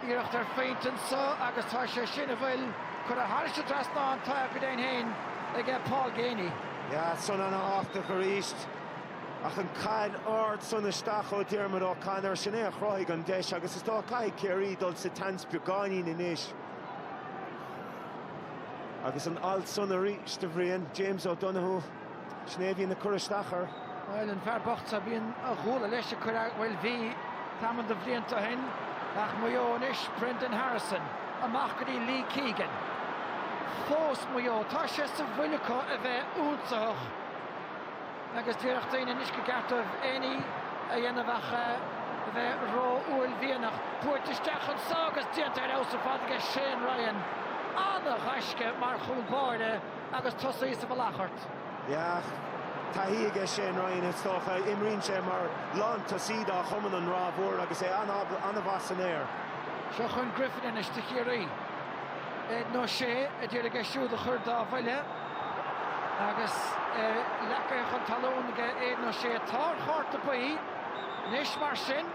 Iarracht ar phointe anso agus tá sé sin, an bhfuil curtha thairis an dtrasnán, tá go deimhin fhéin aige Paul Geaney. Yeah, san ana thábhachtach arís. Ach an caid ard san isteach ó Diarmuid O'Connor, sin é a chruthaigh an deis agus is dócha caithfidh Ciarraí dul sa tseans beagáinín anois. Agus an alt san arís, a Bhriain, James O'Donoghue. Sin é a bhíonn ag cur isteach air. Bhuel, an fear bocht so, bíonn a ghuala leis ag cur, bhuel, bhí tamall de bhlianta ó shin ach Maigh Eo anois, Brendan Harrison, amach go dtí Lee Keegan. Fós Maigh Eo, tá sé sa bhfuil acu a bheith ionsaitheach. agus déarfadh daoine anois go gceart dóibh aon ní a dhéanamh ach a bheith ró-uaillmhianach. Buailte isteach anso agus déanta ar fheabhas ar fad aige Shane Ryan. An-ghaisce mar chúl báire agus tosaí sa mhullach ort. Yeah. Taithí aige Shane Ryan, is dócha. Imríonn sé mar lántosaí dá chumann an Ráth Mhór agus é an-mhaith san aer. Seo chun Griffin anois do Chiarraí. Aidan O'Shea a d'iarraidh é siúd a chur dá bhuille. Agus é leagtha chun talún ag Aidan O'Shea. Tá ar chárta buí anois mar sin.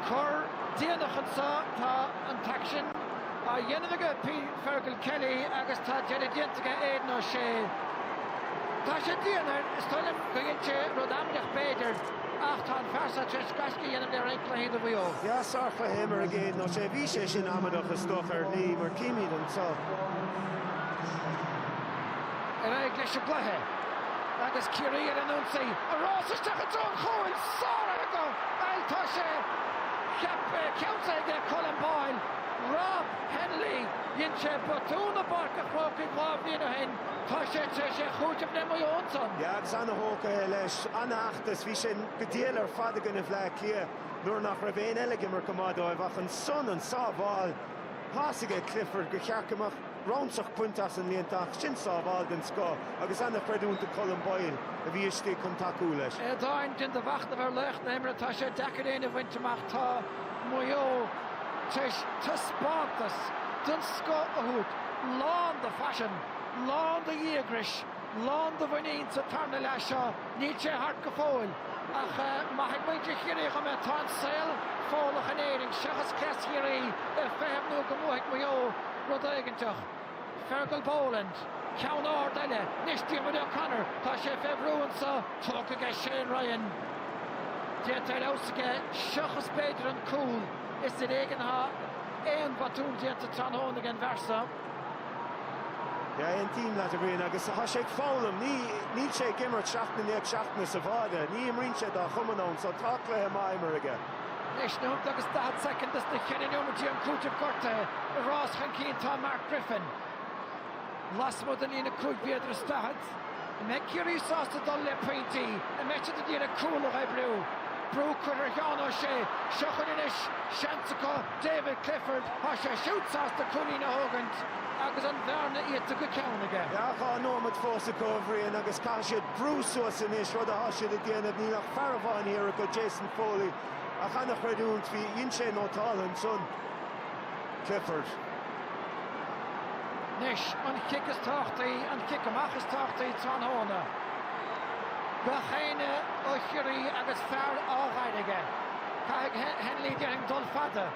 Cor déanach anso. Tá an t-aicsean á dhéanamh ag Fergal Kelly agus tá deireadh déanta ag Aidan O'Shea. Tá sé dian air, is dóigh liom go dhein sé rud amaideach b'fhéidir, ach tá an fear seo tar éis gaisce a dhéanamh le roinnt cluichí do Mhaigh Eo. Yeah, sárchluiche imeartha ag Aidan O'Shea. Bhí sé sin amaideach is dócha ar shlí mar címid anso. Ar aghaidh leis an gcluiche agus Ciarraí ar an ionsaí. An rás isteach i dtreo an chúil. Sáraithe acu! Bhuel, tá sé ceaptha, ceansaithe aige Colm Boyle. Rob Hennelly. Dhein sé botún i bPáirc an Chrócaigh dhá bhliain ó shin. Tá sé tar éis é a chúiteamh le Maigh Eo ansan. Yeah, agus ana-thógtha leis. Ana-fheachtas. Bhí sé go diail ar fad i gcoinne Bhleá Cliath nuair nach raibh éinne eile ag imirt go maith dóibh ach ansan, an sábháil. Thá a fhios aige Clifford gur cheart go mbeadh ramsach bainte as an líontán ach sin sábháil den scoth agus an-chreidiúint do Colm Boyle a bhí istigh chun tacú leis. Aodáin, Déan do mhachnamh ar laoch na himeartha, tá sé deacair éinne a bhaint amach, tá Maigh Eo tar éis taispeántas den scoth a thabhairt, lán de phaisean, lán de dhíograis. lán de mhuinín sa tarna leath seo. Níl sé thart go fóill, ach maithfidh muintir Chiarraí dhom é. Tá an saol Fódhlach in Éirinn, seachas cleas Chiarraí, ag feitheamh nó go mbuafaidh Maigh Eo rud éiginteach. Fergal Boland, ceann ard eile. Anois Diarmuid O'Connor. Tá sé fé bhrú anso. Tógtha aige Shane Ryan. Déanta ar fheabhas aige, seachas b'fhéidir an cúl. Is ar éigean athá aon bhotún déanta tráthnóna ag an bhfear so. Yeah, aontaím leat, a Bhriain, agus tá sé ag foghlaim. Ní, níl sé ag imirt seachtain i ndiaidh seachtaine sa bháide, ní imríonn sé dá chumann ann, so tá cluiche maith imeartha aige. Anois nóimeat agus 40 second isna cheithre nóimeataí am cúitimh gortaithe ag rás chun cinn tá Mark Griffin. Lasmuigh den lína 5 mhéadar is 40. cheart. An mbeidh Ciarraí sásta dul le pointí an mbeidh siad a d'iarraidh cúl a dh'oibriú? Brú curtha ar Sheán O'Shea. Seo chugainn anois seans acu David Clifford. Tá sé siúd sásta cúilín a thógaint agus an bhearna iata go ceann aige. Dhá nóimeat fós acu, a Bhriain, agus caithfidh siad brú suas anois, rud atá siad ag déanamh. Níl ach fear amháin thiar acu, Jason Foley, ach an-chreidiúint, bhí, dhein sé nótálta ansan. Clifford. Anois an chic is tábhachtaí, an chic amach is tábhachtaí tráthnóna. Gach éinne ó Chiarraí agus fear á fhaire aige. Caithfidh Hennelly déarfainn dul fada.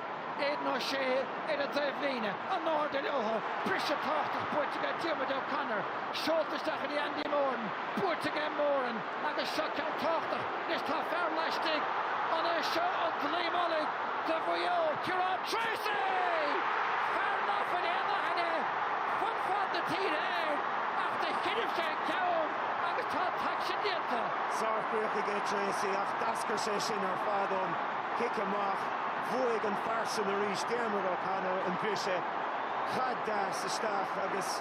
Aidan O'Shea ar an dtaobhlíne. In airde leotha. Briseadh tábhachtach buaite aige Diarmuid O'Connor. Seolta isteach go dtí Andy Moran. Buaite aige Moran. Agus seo ceann tábhachtach, is tá fear laistigh. An é seo an dlaoi mullaigh do Mhaigh Eo, Ciarán Treacy! Fear ná fuil aon aithne fud fad na tíre air ach do choinnibh sé an ceann agus tá an t-aicsean déanta. Sárchríoch aige Treacy ach d'eascair sé sin ar fad ón chic amach. Bhuaigh an fear sin arís, Diarmuid O'Connor, an briseadh. Caid deas isteach agus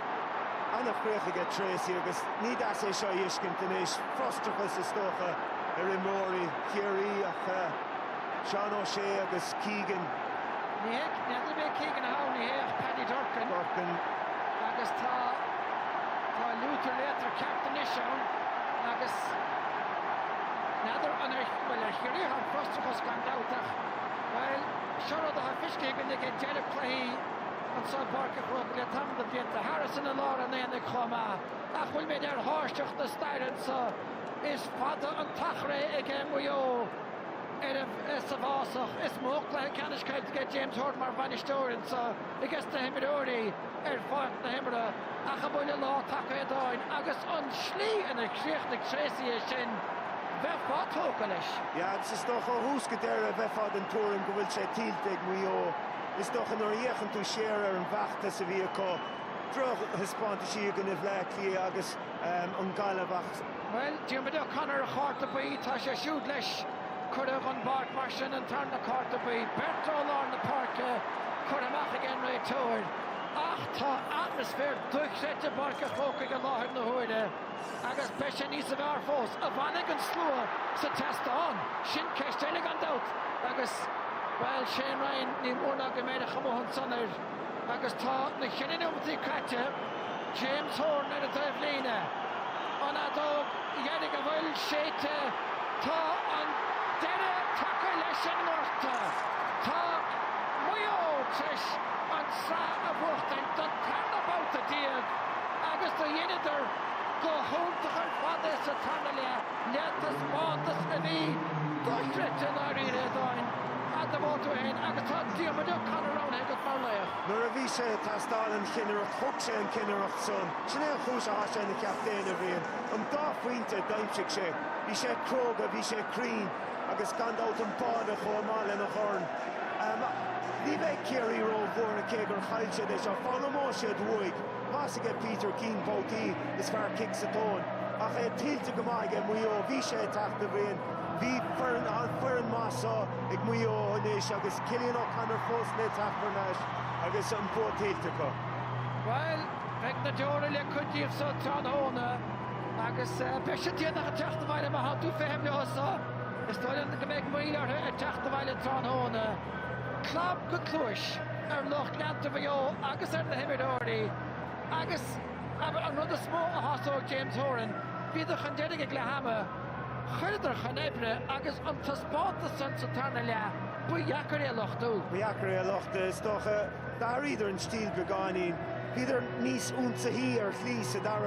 ana-chríoch aige Treacy agus. Ní deas é seo a fheiscint anois, frustrachas is dócha ar imreoirí Chiarraí ach Seán O'Shea agus Keegan. Ní hé, n'fheadar ab é Keegan a shamhlaigh é ach Paddy Durcan. Durcan. Agus tá, tá liútar léatar ceart anois ann agus n'fheadar an ar, bhuel ar Chiarraíoch an frustrachas gan dabht ach, bhuel, seo rud atá feiscithe againn ag deireadh cluichí. anseo i bPáirc an Chrócaigh le tamall de bhlianta. Harrison i lár an aonaigh chomh maith. Ach an bhfuilimid ar thairseach na staire anseo? Is fada an t-achar é aige Maigh Eo ar, sa bhfásach. Is mó cluiche ceannais caillte aige James Horan mar bhainisteoir anseo aiges na himreoirí ar pháirc na himeartha. Ach an bhfuil an lá tagtha, a Aodáin? Agus an slí inar chríochnaigh Treacy é sin, bheifeá tógtha leis. Agus is dócha ó thús go deireadh a bheifeá den tuairim go bhfuil sé tuillte ag Maigh Eo. Is dócha nuair a fhéachann tú siar ar an bhfeachtas a bhí acu, drochthaispeántais i gcoinne Bhleá Cliath agus an Ghaillimh ach, Bhuel, Diarmuid O'Connor, a chárta buí, tá sé siúd leis, curtha den bpáirc mar sin an tarna cárta buí. Beirt ó lár na páirce curtha amach ag an réiteoir ach tá atmaisféar dochreidte i bPáirc an Chrócaigh i láthair na huaire. Agus beidh sé níos fearr fós. An bhfanfaidh an slua sa tseastán? Sin ceist eile gan dabht. Agus, bhuel, Shane Ryan, ní mór ná go mbeidh a chuma ansan air. Agus tá na ceithre neomataí caite, James Horan ar an dtaobhlíne, an fheadóg dheiridh an bhfuil séidte, tá an deireadh tagtha leis an ngorta. Tá Maigh Eo tar eis an tsraith a bhuachtaint don tarna babhta déag. Agus do dheineadar go h-iúntach ar fad é sa tarna leath le taispeántas a bhí dochreidte i ndáiríre, a Aodáin. Do vóta fhéin agus tá Diarmuid O'Connor roghnaithe agat mar laoch. Nuair a bhí sé ag teastáil an chinnireacht thug sé an cinnireacht san. Sin é an chúis atá sé ina chaptaen, a Bhriain. An dá phointe a d'aimsigh sé, bhí sé cróga, bhí sé cruinn agus gan dabht an báide chomh maith lena dhorn. Ach ní bheidh Ciarraí ró bhuartha cé gur chaill siad é seo. Foghlaimeoidh siad uaidh. Tá's aige Peter Keane babhtaí is fearr cic sa tóin, ach é tuillte go maith aige Maigh Eo, bhí sé ag teacht a Bhriain. Bhí foireann an-foireann maith seo ag Maigh Eo anois agus Cillian O'Connor fós le teacht thar n-ais agus an bua tuillte acu. Bhuel, beidh na deora le cuid díobh seo tráthnóna agus beidh siad déanach ag teacht abhaile má thánn tú ag feitheamh leo seo. Is dóigh liom go mbeidh moill orthu ag teacht abhaile tráthnóna. clab go cluais ar lucht leanta Mhaigh Eo agus ar na himreoirí agus an rud is mó a shásódh James Horan, bhíodar chun deiridh ag leath ama, chuireadar chun oibre agus an taispeántas san sa tarna leath, ba dheacair é a lochtú. Ba dheacair é a lochtú, is dócha. D'athraíodar an stíl beagáinín, bhíodar níos ionsaithí ar shlí sa dara